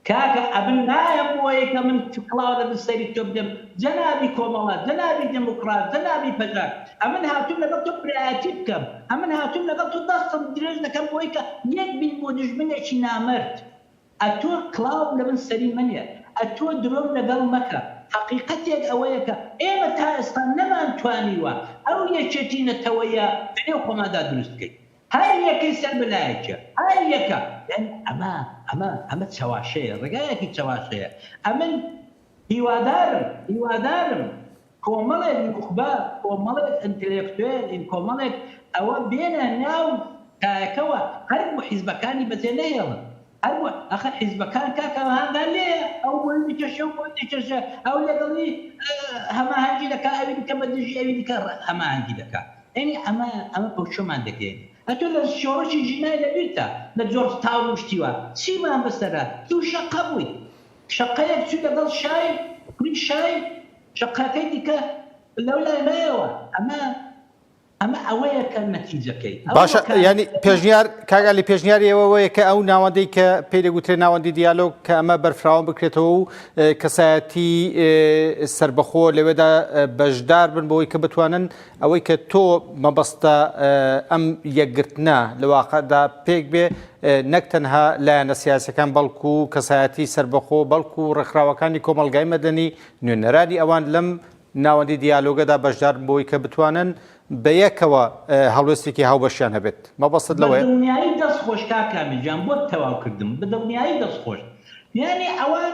کاکە ئەمن نایەم بۆیە کە من کڵاو لە بن سەری تۆ بدەم جەنابی کۆمەڵە، جەنابی دێمۆکڕات، جەنابی پەژاک، ئەمن هاتووم لەگەڵ تۆ برایەتی بکەم، ئەمن هاتووم لەگەڵ تۆ دەستم درێژ دەکەم بۆی کە یەک بین بۆ دوژمنێکی نامەرد. ئەتۆ کڵاو لە من سەری مەنێ ئەتۆ درۆم لەگەڵ مەکە حەقیقەتێک ئەوەیە کە ئێمە تا ئێستا نەمانتوانیوە ئەو یەکێتی نەتەوەیە لە نێو خۆماندا دروست بکەین هەر یەکەی سەر بە لایەکێ هەر یەکە دەن ئەمە ئەمە ئەمە چەواشەیە ڕێگایەکی چەواشەیە ئەمن هیوادارم هیوادارم. کۆمەڵێک نوخبە، کۆمەڵێک ئەنتلێکتوێلین، کۆمەڵێک ئەوە بێنە ناو کایەکەوە، هەربۆ حیزبەکانی بەجێ نەهێڵن، هەربۆ، ئاخر حیزبەکان کاکە هەنگا لێیە، ئەو بۆی دەکێشێ و بۆی دەکێشێ، ئەو لەگەڵی هەماهەنگی دەکا، ئەوی دیکە بە دژی ئەوی دیکە هەماهەنگی دەکا، یانی ئەمە ئەمە پەوچەمان دەگەیەنێ، ئەتۆ لە شۆڕشی ژینا لەبیرتە لە جۆرج تاون و شتی وا چیمان بەسەرە، تووشە قەبووی. شەقەیەک چووی لەگەڵ شای کوڕی شای شەقەکەی دیکە لەو لای مایەوە ئەمە ئەمە ئەوەیە کە نەتیجەکەی باشە ینی پێشنیار کاگالی پێشنیاری ئەوەیە کە ئەو ناوەندەی کە پێی دەگوترێ ناوەندی دیالۆگ کە ئەمە بەرفراوان بکرێتەوە و کەسایەتی سربەخۆ لەوێدا بەشدار بن بۆی کە بتوانن ئەوەی کە تۆ مەبەستە ئەم یەکگرتنە لە واقعدا پێک بێ نەک تەنها لایەنە سیاسیەکان بەڵکو کەسایەتی سەربەخۆ بەڵکو ڕێکخراوەکانی کۆمەڵگای مەدەنی نوێنەرانی ئەوان لەم ناوەندی دیالۆگەدا بەشدارن بۆی کە بتوانن بەیەکەوە هەڵوێستێکی هاوبەشیان هەبێت مەبەستت لەوەیە؟ بەدڵنیایی دەست خۆش کاک کامل گیان بۆت تەواو کردم بەدڵنیایی دەست خۆش یانی ئەوان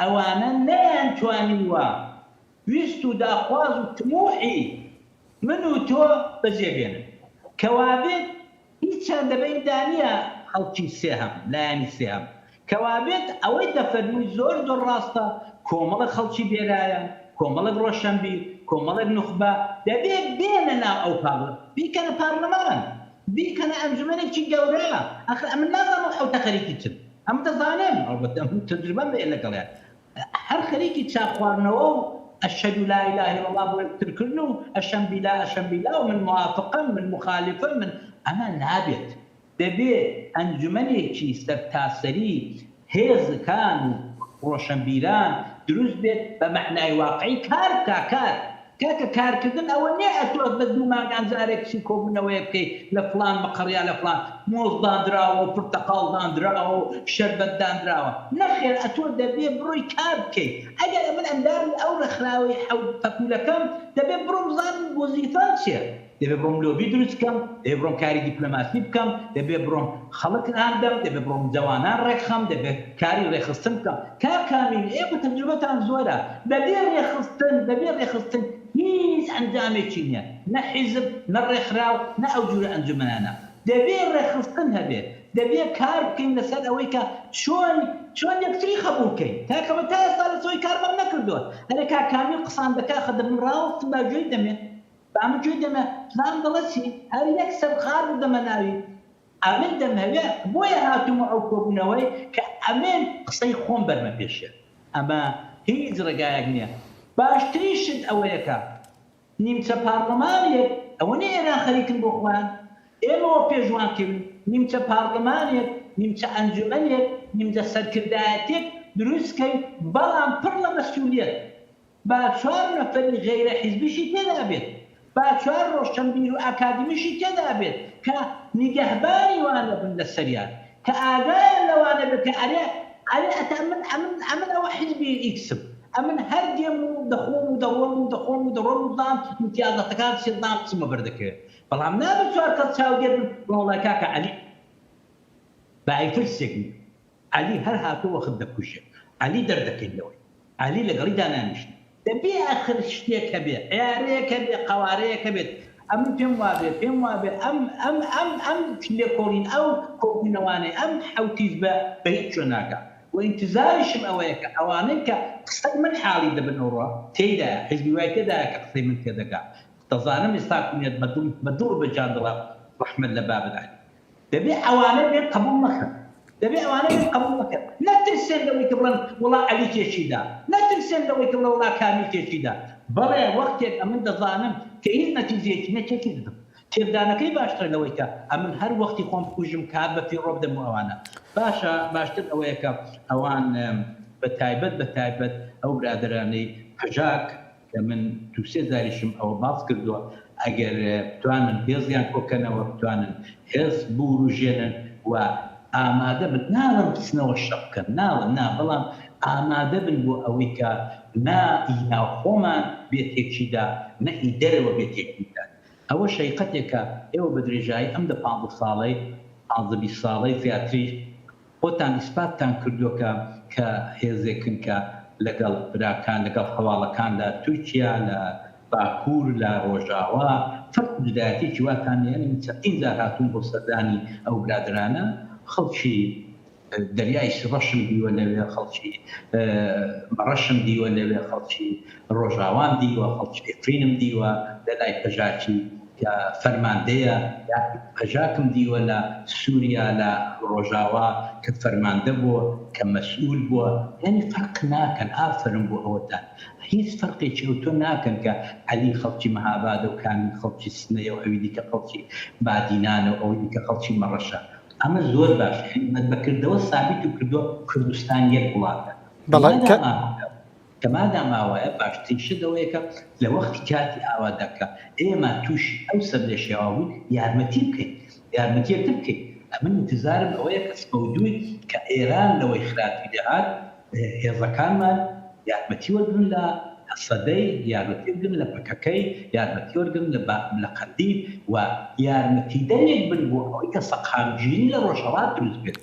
ئەوانە نەیان توانیوە ویست و داخواز و تموحی من و تۆ بەجێ بێنن. کەوابێت هیچیان دەبەین دانیە خەڵکی سێهەم، لایەنی سێهەم. کەوابێت ئەوەی دەفەرمووی زۆر زۆر ڕاستە، کۆمەڵێک خەڵکی بێرایە، کۆمەڵێک ڕۆشەنبیر، کۆمەڵێک نوخبە دەبێ بێنە ناو ئەو پارلە، بیکەنە پارلەمان، بیکەنە ئەنجومەنێکی گەورە، ئاخر ئەمن نازانم ئەو حەوتە خەریکی چن. ئەم دەزانم ئەڵبەتە ئەم تەجروبەم هەیە لەگەڵیان هەر خەریکی چا خواردنەوە و اشهد لا اله الا اللە بۆ یەکتر کردن و اشم بیلا اشم بیلا و من موافقم من مخالفم من ئەمە نابێت دەبێ ئەنجومەنێکی سەرتاسەری هێزکان و ڕۆشەنبیران دروست بێت بە مەعنای واقعی کار بکا کار کاکە کارکردن ئەوە نیە ئەتۆ بە دوو مانگان جارێک چی کۆبونەوەیەک بکەی لە فڵان مقڕ یا لە فڵان مۆز داندراوە و پرتەقاڵ داندراوە و شەربەت داندراوە نەخێر ئەتۆ دەبێ بڕۆی کار بکەی ئەگەر ئەمن ئەندامی ئەو ڕێکخراوەی حەوت پەپولەکەم دەبێ بڕۆم بزانم وەزیفەم چیە دەبێ بڕۆم لۆبی دروست بکەم، دەبێ بڕۆم کاری دیپلۆماسی بکەم، دەبێ بڕۆم خەڵک هان دەم، دەبێ بڕۆم جەوانان ڕێکخەم، دەبێ کاری ڕێکخستن بکەم. کاک ئامین، ئێوە تەجروبەتان زۆرە، بەبێ ڕێکخستن، بەبێ ڕێکخستن هیچ ئەنجامێکی نییە، نە حیزب، نە ڕێکخراو، نە ئەو جورە ئەنجومەنانە. دەبێ ڕێکخستن هەبێ، دەبێ کار بکەین لەسەر ئەوەی کە چۆن چۆن یەکتری قەبووڵ کەین. کاکە من تا ئێستا لەسەوەی کارمەم نەکردووە. ئەرێ کاک کامیل قسان دەکا خەدە من ڕاوەستم با گوێی دەمێ. بامە گوێ دەمە پلان دەڵێ چی هەر یەک سەر غار بدەمە ناوی ئەمن دەمهەوێ بۆیە هاتوومە ئەو کۆبوونەوەی کە ئەمن قسەی خۆم بەرمە پێشێ ئەمە هیچ ڕێگایەک نیە باشترین شت ئەوەیە کە نیمچە پارڵمانێک ئەوە نیە ئێران خەریکن بۆ خۆیان ئێمەوە پێشوان کەوین نیمچە پارڵمانێک نیمچە ئەنجومەنێک نیمجە سەرکردایەتێک دروست کەین بەڵام پڕ لە مەسولیەت با چوار نەفەری غەیرە حیزبیشی تێدا بێت، با چوار ڕۆشنبیر و ئاکادمیشی تێدا بێت کە نیگەهبانی وانە بن لەسەریان، کە ئاگایان لەوانە بێت کە ئەرێ ئەرێ ئەتە من ئەمن ئەمن ئەوە حیزبی ئیکسم، ئەمن هەر دێم و دەخۆم و دەڕۆم و دەخۆم و دەڕۆم و دام ئیمتیازاتەکان سێ دام قسمە بەر دەکەوێت، بەڵام نابێت چوار کەس چاودێر بن، بەڵام وەڵای کاکە عەلی بە ئەی ترسێک نییە. عەلی هەر هاتوو وەخت دەکوژێ عەلی دەردەکەین لەوەی عەلی لەگەڵی دانانیشتین. دەبێ ئەخر شتێک هەبێ عیارەیەک هەبێ قەوارەیەک هەبێت ئەمن پێم وابێ پێم وابێ ئەم ئەم ئەم ئەم لێکۆڵین ئەو کۆبونەوانەی ئەم حەوت حیزبە بە هیچ جۆ ناگا و ئینتزاریشم ئەوەیە کە ئەوانەی کە قسەی من حاڵی دەبن ئەوڕۆ تێیدایە حیزبی وای تێدایە کە قسەی من تێدەگا دەزانم ئێستاکو نێت بە دڵ بە دڵ و بە جان دڵە ڕەحمەت لە بابر عەلی. دەبێ ئەوانە بێن قەبوڵ مەکەن. دەبێ ئەوانە بێن قەبوڵ مەکەن. نەترسێن لەوەی کە بڵێن وەڵا عەلی تێکی دا. نەترسێن لەوەی کە بڵێن وەڵا کامیل تێکی دا. بەڵێ وەختێک ئەمن دەزانم کە هیچ نەتیجەیەکی نیە تێکی دەدەم. تێکدانەکەی باشترە لەوەی کە ئەمن هەر وەختی خۆم بکوژم کات بە فیڕۆ بدەم بۆ ئەوانە. باشە باشتر ئەوەیە کە ئەوان بە تایبەت بە تایبەت ئەو برادەرانەی پەژاک، کە من دوو سێ جاریشم ئەوە باس کردووە، ئەگەر بتوانن هێزیان کۆکەنەوە، بتوانن هێز بوروژێنن و ئامادە بن، ناڵێم بچنەوە شەڕ بکەن، ناڵێم نا، بەڵام ئامادە بن بۆ ئەوەی کە نە ئی ناوخۆمان بێ تێکی دا، نە ئی دەرەوە بێ تێکی بدات. ئەوەش هەیقەتێکە ئێوە بە درێژایی ئەم دە پانزە ساڵەی، پانزە بیست ساڵەی زیاتریش، خۆتان ئیسپاتتان کردووە کە کە هێزێکن کە لەگەڵ براکان، لەگەڵ هەواڵەکان لە تورکیا، لە باکوور، لە ڕۆژاوا، فەرق و جودایەتیەکی واتان نیە. یانی من چەندین جار هاتووم بۆ سەردانی ئەو برادەرانە، خەڵکی دەریای سروشم دیوە لەوێ، خەڵکی مەڕەشم دیوە لەوێ، خەڵکی ڕۆژاوام دیوە، خەڵکی عفرینم دیوە لە لای پەژاکی. کە فەرماندەیە یا پەژاکم دیوە لە سوریا لە ڕۆژاوا کە فەرماندە بووە کە مەسئول بووە یانی فەرق ناکەن ئافەرم بۆ ئەوەتان هیچ فەرقێکی ئەوتۆ ناکەن کە عەلی خەڵکی مەهابادە و کامیل خەڵکی سنەیە و ئەوی دیکە خەڵکی بادینانە و ئەوی دیکە خەڵکی مەڕەشە ئەمە زۆر باشە یانی بەکردەوە سابیت و کردووە کوردستان یەک وڵاتە بەڵێ کە. تەمادا ماوایە باشترین شت ئەوەیە کە لە وەختی کاتی ئاوادا کە ئێمە تووشی ئەو سەرلێشێوا بووین یارمەتی بکەین یارمەتی یەکتر بکەین ئەمن ئینتزارم ئەوەیە کە سبە و دووی کە ئێران لەوەی خراپی دەهات هێزەکانمان یارمەتی وەرگرن لە هەسەدەی یارمەتی وەرگرن لە پەکەکەی یارمەتی وەرگرن لە بە لە قەندیل و یارمەتیدەرێک بن بۆ ئەوەی کە سەقامگیری لە ڕۆژهەڵات دروست بێت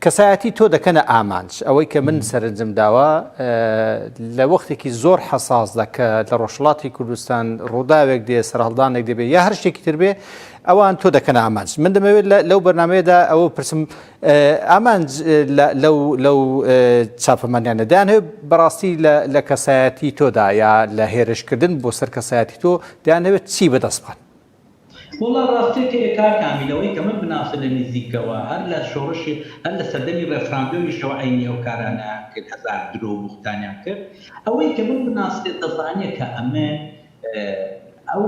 کەسایەتی تۆ دەکەنە ئامانج. ئەوەی کە من سەرنجم داوە لە وەختێکی زۆر حەساسدا کە لە ڕۆژهەڵاتی کوردستان ڕووداوێک دێ سەرهەڵدانێک دەبێ یا هەر شتێکی تر بێ ئەوان تۆ دەکەن ئامانج من دەمەوێت لەو بەرنمەیەدا ئەوە پرسم ئامانج لەو چاپەمانیانە دەیان هەیە بەڕاستی لە کەسایەتی تۆدا یا لە هێرشکردن بۆ سەر کەسایەتی تۆ دەیانەوێت چی بەدەستخوات وەڵا ڕاستت هەیە کاک کامیل ئەوەی کە من بناسم لە نیزیکەوە هەر لە شۆڕشی هەر لە سەردەمی ڕێفراندۆمیشەوە عەینی ئەو کارانەیان کرد هەزار درۆ و بوختانیان کرد ئەوەی کە من بناسێ دەزانێ کە ئەمن ئەو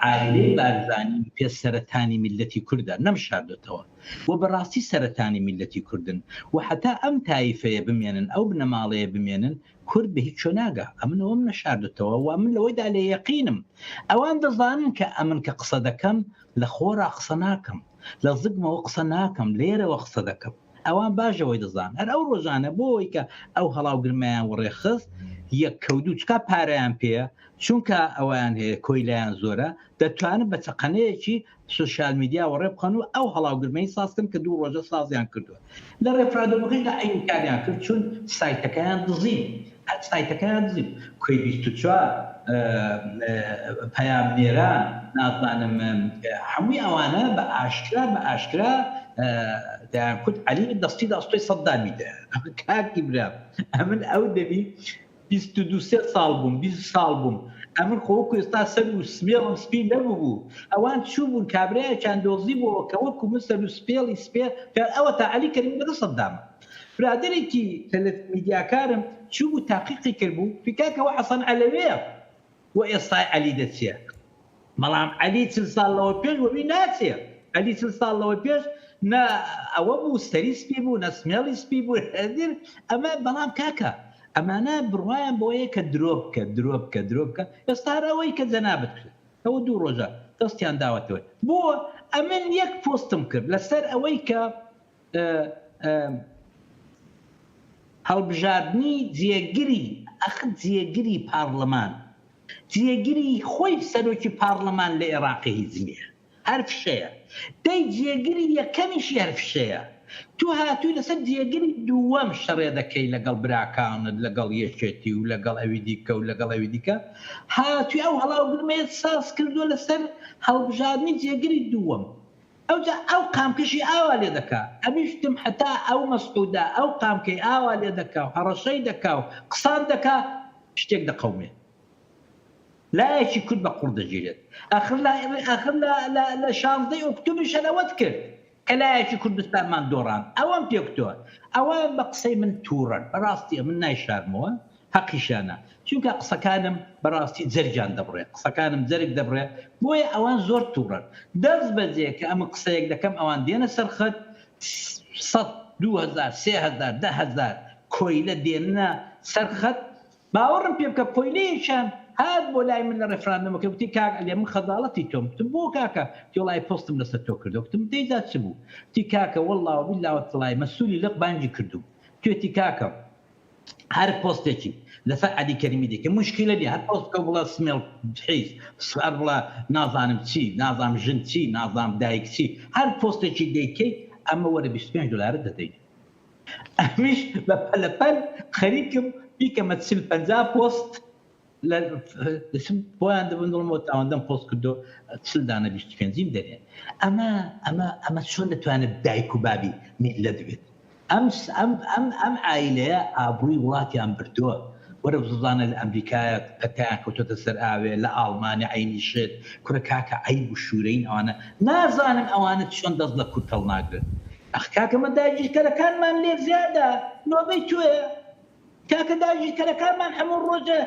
عایلەی بارزانی پێ سەرەتانی میللەتی کوردە نەم شاردۆتەوە و بەڕاستی سەرەتانی میللەتی کوردن و حەتا ئەم تایفەیە بمێنن ئەو بنەماڵەیە بمێنن کورد بە هیچ چۆ ناگا ئەمن ئەوەم نەشاردتەوە وە من لەوەیدا لە یەقینم ئەوان دەزانن کە ئەمن کە قسە دەکەم لە خۆرا قسە ناکەم لە زگمەوە قسە ناکەم لێرەوە قسە دەکەم ئەوان باشەوەی دەزان هەر ئەو ڕۆژانە بۆەوەی کە ئەو هەڵاوگرمەیان وەڕێخست یەک کەوتو چکا پارەیان پێە چونکە ئەویان هەیە کۆیلایان زۆرە دەتوانن بە چەقەنەیەکی سوسیال میدیا وەڕێ بخەن و ئەو هەڵاوگرمەی ساز کەن کە دوو ڕۆژە سازیان کردووە لە ڕێفراندۆمەکەیدا ئەین کاریان کرد چوون سایتەکەیان دزین سایتەکەیان دزین کۆی بیست و چوار پەیام نێران نازانم هەمووی ئەوانە بە ئاشکرا بە ئاشکرا دەیان کوت عەلی دەستی داستۆی سەددامی دەیان کاکی برا ئەمن ئەو دەبی بیست و دوو سێ ساڵ بووم، بیست ساڵ بووم، ئەمن خۆ وەکو ئێستا سەر و سمێڵم سپی نەبووبوو، ئەوان چووبوون کابرایەکیان دۆزیبۆوە کە وەکو من سەر و سپێڵی سپێ کار، ئەوەتا عەلی کەریمی لەگەڵ سەددامە. برادەرێکی تەلەف میدیاکارم چووبوو تاقیقی کردبوو، پێی کاکە ئەوە حەسەن عەلەوێیە. وە ئێستای عەلی دەچێ بەڵام عەلی چل ساڵ لەوە پێش وەوی ناچێ عەلی چل ساڵ لەوە پێش نە ئەوە بوو سەری سپی بوو نە سمێڵی سپی بوو هەدر ئەمە بەڵام کاکە ئەمانە بڕوایان بەوەیە کە درۆ بکە درۆ بکە درۆ بکە ئێستا هەر ئەوەی کە جەنابت کرد ئەوە دوو ڕۆژە دەستیان داوەتەوە بۆ ئەمن یەک پۆستم کرد لەسەر ئەوەی کە هەڵبژاردنی جێگری ئەخ جێگری پارلمان جێگری خۆی سەرۆکی پارلمان لە ئێراقی هیچ نییە هەر فشەیە دەی جێگری یەکەمیشی هەر فشەیە تو هاتووی لەسەر جێگری دووەم شەڕێ دەکەی لەگەڵ براکانت لەگەڵ یەکێتی و لەگەڵ ئەوی دیکە و لەگەڵ ئەوی دیکە هاتووی ئەو هەڵاوگرمەیەت ساز کردووە لەسەر هەڵبژاردنی جێگری دووەم ئەوجا ئەو قامکەشی ئاوا لێ دەکا ئەویشتم حەتا ئەو مەسعودە ئەو قامکەی ئاوا لێ دەکاو هەڕەشەی دەکاو قسان دەکا شتێک دەقەومێ لایەکی کورد بە قوڕ دەگیرێت ئاخر لا ئاخر لا لا لە شانزدەی ئۆکتوبریشان ئەوەت کرد کە لایەکی کوردستانمان دۆڕان ئەوەم پێ گوتوە ئەوان بە قسەی من توڕەن بەڕاستی ئەمن نایشارمەوە هەقیشیانە چونکە قسەکانم بەڕاستی جەرگیان دەبڕێ قسەکانم جەرگ دەبڕێ بۆیە ئەوان زۆر توڕەن دەست بەجێ کە ئەمن قسەیەک دەکەم ئەوان دێنە سەر خەت سەد دوو هەزار سێ هەزار دە هەزار کۆیلە دێننە سەر خەت باوەڕم پێ بکە کۆیلەیەکیان هات بۆ لای من لە ڕێفراندۆمەکە گوتی کاک عەلی من خەجاڵەتی تۆم گوتم بۆ کاکە گوتی وەڵای پۆستم لەسەر تۆ کردوە گوتم دەی جا چ بوو گوتی کاکە وەڵڵا وەبیللا وەتەڵای مەسولی لق بانگی کردووم گوتێتی کاکە هەر پۆستێکی لەسەر عەلی کەریمی دەکەی موشکیلە نیە هەر پۆست بکە بڵێ سمێڵ حیز هەر بڵێ نازانم چی نازانم ژن چی نازانم دایک چی هەر پۆستێکی دەیکەی ئەمە وەرە بیست و پێنج دۆلارت دەدەین ئەمنیش بە پەلەپەل خەریکم بیکەمە چل پەنجا پۆست. لە دەچم بۆیان دەبن دڵم بۆ تاوەندەم پۆست کردو چل دانە بیست پێنجیم دەرێن ئەمە ئەمە ئەمە چۆن دەتوانێت دایک و بابی میلەت بێت ئەم ئەم ئەم ئەم ئایلەیە ئابڕوی وڵاتیان بردووە وەرە بزانە لە ئەمریکایە پەتیان کەوتۆتە سەر ئاوێ لە ئاڵمانە عینی شت کورە کاکە عیب و شوورەین ئەوانە نازانن ئەوانە چۆن دەست لە کورد هەڵناگرن ئەخ کاکە مە داگیرکەرەکانمان لێ زیادە نۆبەی تۆیە کاکە داگیرکەرەکانمان هەموو ڕۆژێ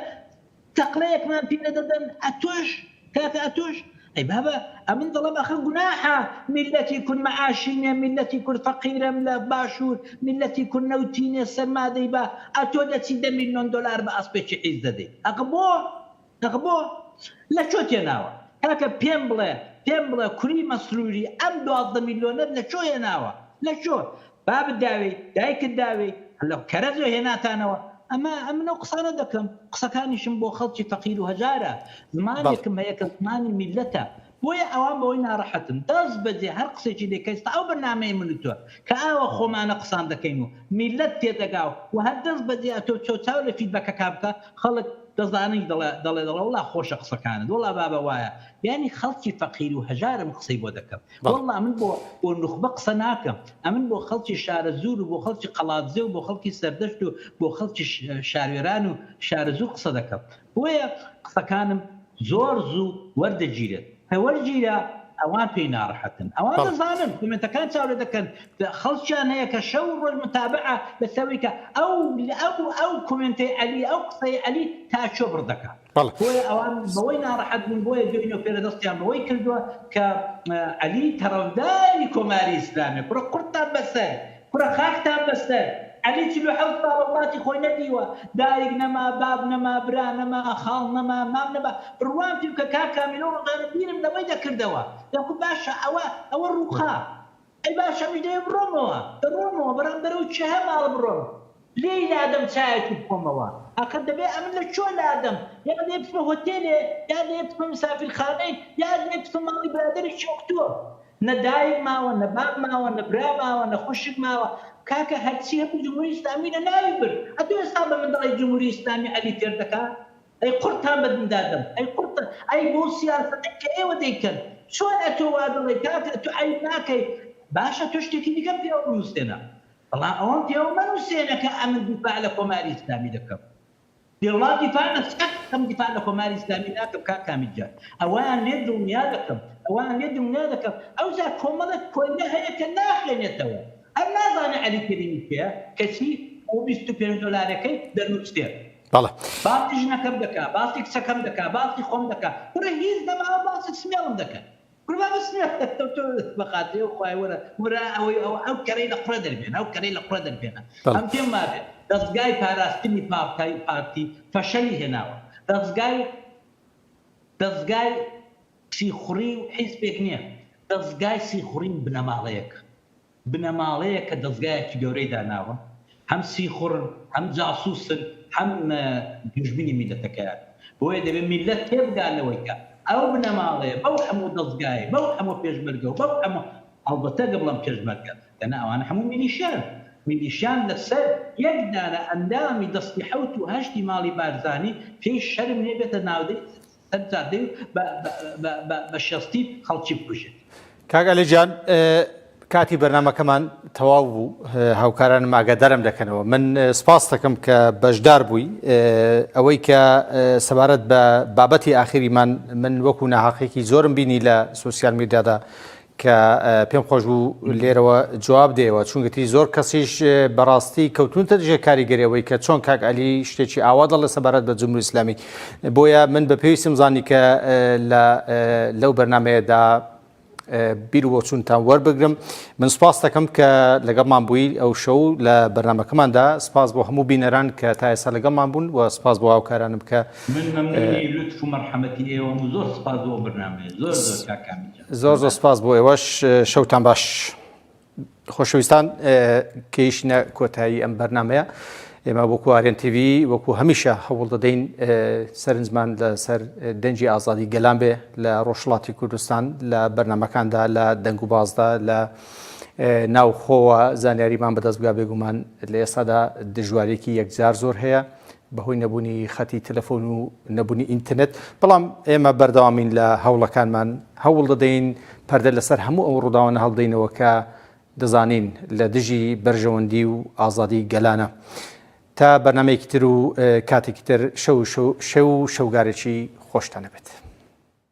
تەقلەیەکمان پێ دەدەن ئەتۆش کاکە ئەتۆش ئەی بابە ئەمن دەڵێم ئەخە گوناحە میلەتی کورد مەعاشی نیە میلەتی کورد فەقیرەم لە باشوور میلەتی کورد نەوتی نیە سەرمادەی بە ئەتۆ دەچی دە میلیۆن دۆلار بە ئەسپێکی حیز دەدەی ئەخە بۆ تخبۆ لە کۆ تێناوە. کاکە پێم بڵێ پێم بڵێ کوری مەسروری ئەم دوازدە میلۆنەت لە کۆ هێناوە لە کۆ بابت داوێی دایکت داوێی لە کەرەزۆ هێناتانەوە ئەمە ئەمن ئەو قسانە دەکەم قسەکانیشم بۆ خەڵکی فەقیرو هەژارە بەڵێ. زمانێکم هەیە کە زمانی میلەتە بۆیە ئەوان بەوەی ناڕەحەتن دەست بەجێ هەر قسەیەکی لێ کەی ستا ئەو بەرنامەی من و تۆ کە ئاوا خۆمانە قسان دەکەین و میللەت تێدەگا و وە هەر دەست بەجێ ئەتۆ چۆ چاو لە فیدبەکەکا بکە خەڵک دەزانی دەڵێ دەڵێ دەڵێ وەڵا خۆشە قسەکانت وەڵا بابە وایە یانی خەڵکی فەقیر و هەژارم قسەی بۆ دەکەم بەڵێ. وەڵا من بۆ بۆ نوخبە قسە ناکەم ئەمن بۆ خەڵکی شارەزوور و بۆ خەڵکی قەڵادزێ و بۆ خەڵکی سەردەشت و بۆ خەڵکی شاروێران و شارەزوور قسە دەکەم بۆیە قسەکانم زۆر زوو وەردەگیرێت کە وەرگیرا ئەوان پێی ناڕەحەتن ئەوان دەزانن کۆمێنتەکان چاو لێ دەکەن خەڵکیان هەیە کە شەو و ڕۆژ متابەعە لەسەرویکە ئەو ئەو ئەو کۆمێنتەی عەلی ئەو قسەی عەلی تا کوێ بڕ دەکا بۆیە ئەوان بەوەی ناڕەحەت بوون بۆیە دوێنێ و پێرە دەستیان بەوەی کردووە کە عەلی تەڕەفداری کۆماری ئیسلامیە کوڕە قورتتان بەسەر کوڕە خاکتان بەسەر. عەلی چل و حەوت ساڵە وڵاتی خۆی نەدیوە دایک نەما باب نەما برا نەما خاڵ نەما مام نەما بڕوام پێ بکە کاک کامیلۆ ڕۆژانە بیرم لەوەی دەکردەوە دەگوت باشە ئەوە ئەوە ڕووخا ئەی باشە ئەمیش دەیێ بڕۆمەوە دەڕۆمەوە بەرام بەرەو چه ماڵ بڕۆم لێی لادەم چایەکی بخۆمەوە ئاخر دەبێ ئەمن لە کوێ لادەم یا لێ بچمە هۆتێلێ یا لێ بچمە مسافیرخانەیک یا لێ بچمە ماڵی برادەرێکی وەک تۆ نە دایک ماوە نە باب ماوە نە برا ماوە نە خوشک ماوە کاکە هەرچی هەبوو جمهوری ئیسلامی لە ناوی برد ئەتو ئێستا بە من دەڵێی جمهوری ئیسلامی عەلی فێر دەکا ئەی قوڕتان بە دیندا دەم ئەی قوڕتان ئەی بەو سیاسەتەی کە ئێوە دەیکەن چۆن ئەتۆ وا دەڵێی کاکە ئەتو عەیب ناکەی باشە تۆ شتێکی دیکە پێوە بنوسێنە بەڵام ئەوەم پێوە مەنوسێنە کە ئەمن دیفاع لە کۆماری ئیسلامی دەکەم بێ وڵام دیفاع لە سەد دەکەم دیفاع لە کۆماری ئیسلامی ناکەم کاک کامیل جان ئەوەیان لێ دڵنیا دەکەم ئەوەیان لێ دڵنیا دەکەم ئەوجا کۆمەڵێک کۆیلە هەیە کە ناخوێنێتەوە هەر نازانێ عەلی کەریمی کێیە کەچی بۆ بیست و پێنج دۆلارەکەی دەنوسێ باسی ژنەکەم دەکا باسی کچەکەم دەکا باسی خۆم دەکا کوڕە هیچ نەماوە باسی سمێڵم دەکەن. کوربە بەس نەخێر تۆ تۆ بەخاتری ئەو خوای وەرە وەرە ئەوەی ئەو ئەو کەرەی لە قوڕێ دەربێنە ئەو کەرەی لە قوڕێ دەربێنە بەڵێ. ئەم پێم وابێ دەزگای پاراستنی پارتای پارتی فەشەلی هێناوە دەزگای دەزگای سیخوڕی و حیزبێک نیە دەزگای سیخوڕی و بنەماڵەیەکە. بنەماڵەیەک کە دەزگایەکی گەورەی داناوە هەم سیخوڕن هەم جاسوسن هەم دوژمنی میلەتەکەیانن بۆیە دەبێت میلەت تێبگات لەوەی کە ئەو بنەماڵەیە بەو هەموو دەزگایەی بەو هەموو پێشمەرگە و بەو هەموو هەڵبەتە گە بڵێم پێشمەرگە دەنا ئەوانە هەموو میلیشیان میلیشیان لەسەر یەک دانە ئەندامی دەستی حەوت و هەشتی ماڵی بارزانی پێی شەرم نیە بێتە ناودەی هەتا بێ و بە شەستی خەڵکی بکوژێت. کاک عەلی جان کاتی بەرنامەکەمان تەواو بوو هاوکارانم ئاگادارم دەکەنەوە من سپاستەکەم کە بەشدار بووی ئەوەی کە سەبارەت بە بابەتی ئاخیریمان من وەکو ناهاقێکی زۆرم بینی لە سوسیال میدیادا کە پێم خۆش بوو لێرەوە جواب دێەوە چونگەتی زۆر کەسیش بەڕاستی کەوتونتە دژێ کاریگەری ئەوەی کە چۆن کاک علی شتێکی ئاوا دەڵێ سەبارەت بە جمهوری ئیسلامی بۆیە من بە پێویستم زانی کە لەو بەرنمەیەدا بیر و بۆچونتان وەربگرم من سپاس دەکەم کە لەگەڵمان بووی ئەو شەو لە بەرنمەکەماندا سپاس بۆ هەموو بینەران کە تا ئێستا لەگەڵمان بوون و سپاس بۆ هاوکارانم کە من مەمنونی لوتف و مەرحەمەتی ئێوەم و زۆر سپاس بۆ ئەو بەرنامەیە زۆر زۆر کاک کامیل جان. زۆر زۆر سپاس بۆ ئێوەش شەوتان باش خۆشەویستان کەیشنە کۆتایی ئەم بەرنمەیە ئێمە وەکو ئارێن TV وەکو هەمیشە هەوڵ دەدەین سەرنجمان لەسەر دەنجی ئازادی گەلان بێ لە ڕۆژڵاتی کوردستان لە بەرنمەکاندا لە دەنگ و بازدا لە ناوخۆوە زانیاریمان بەدەست بگا بێگومان لە ئێستادا دژوارێکی یەکجار زۆر هەیە بەهۆی نەبوونی خەتی تەلەفۆن و نەبوونی ئینتەرنێت، بەڵام ئێمە بەردەوامین لە هەوڵەکانمان، هەوڵ دەدەین پەردە لەسەر هەموو ئەو ڕووداوانە هەڵبدەینەوە کە دەزانین لە دژی بەرژەوەندی و ئازادی گەلانە. تا بەرنامەیەکی تر و کاتێکی تر، شەو و شەوگارێکی خۆشتان هەبێت.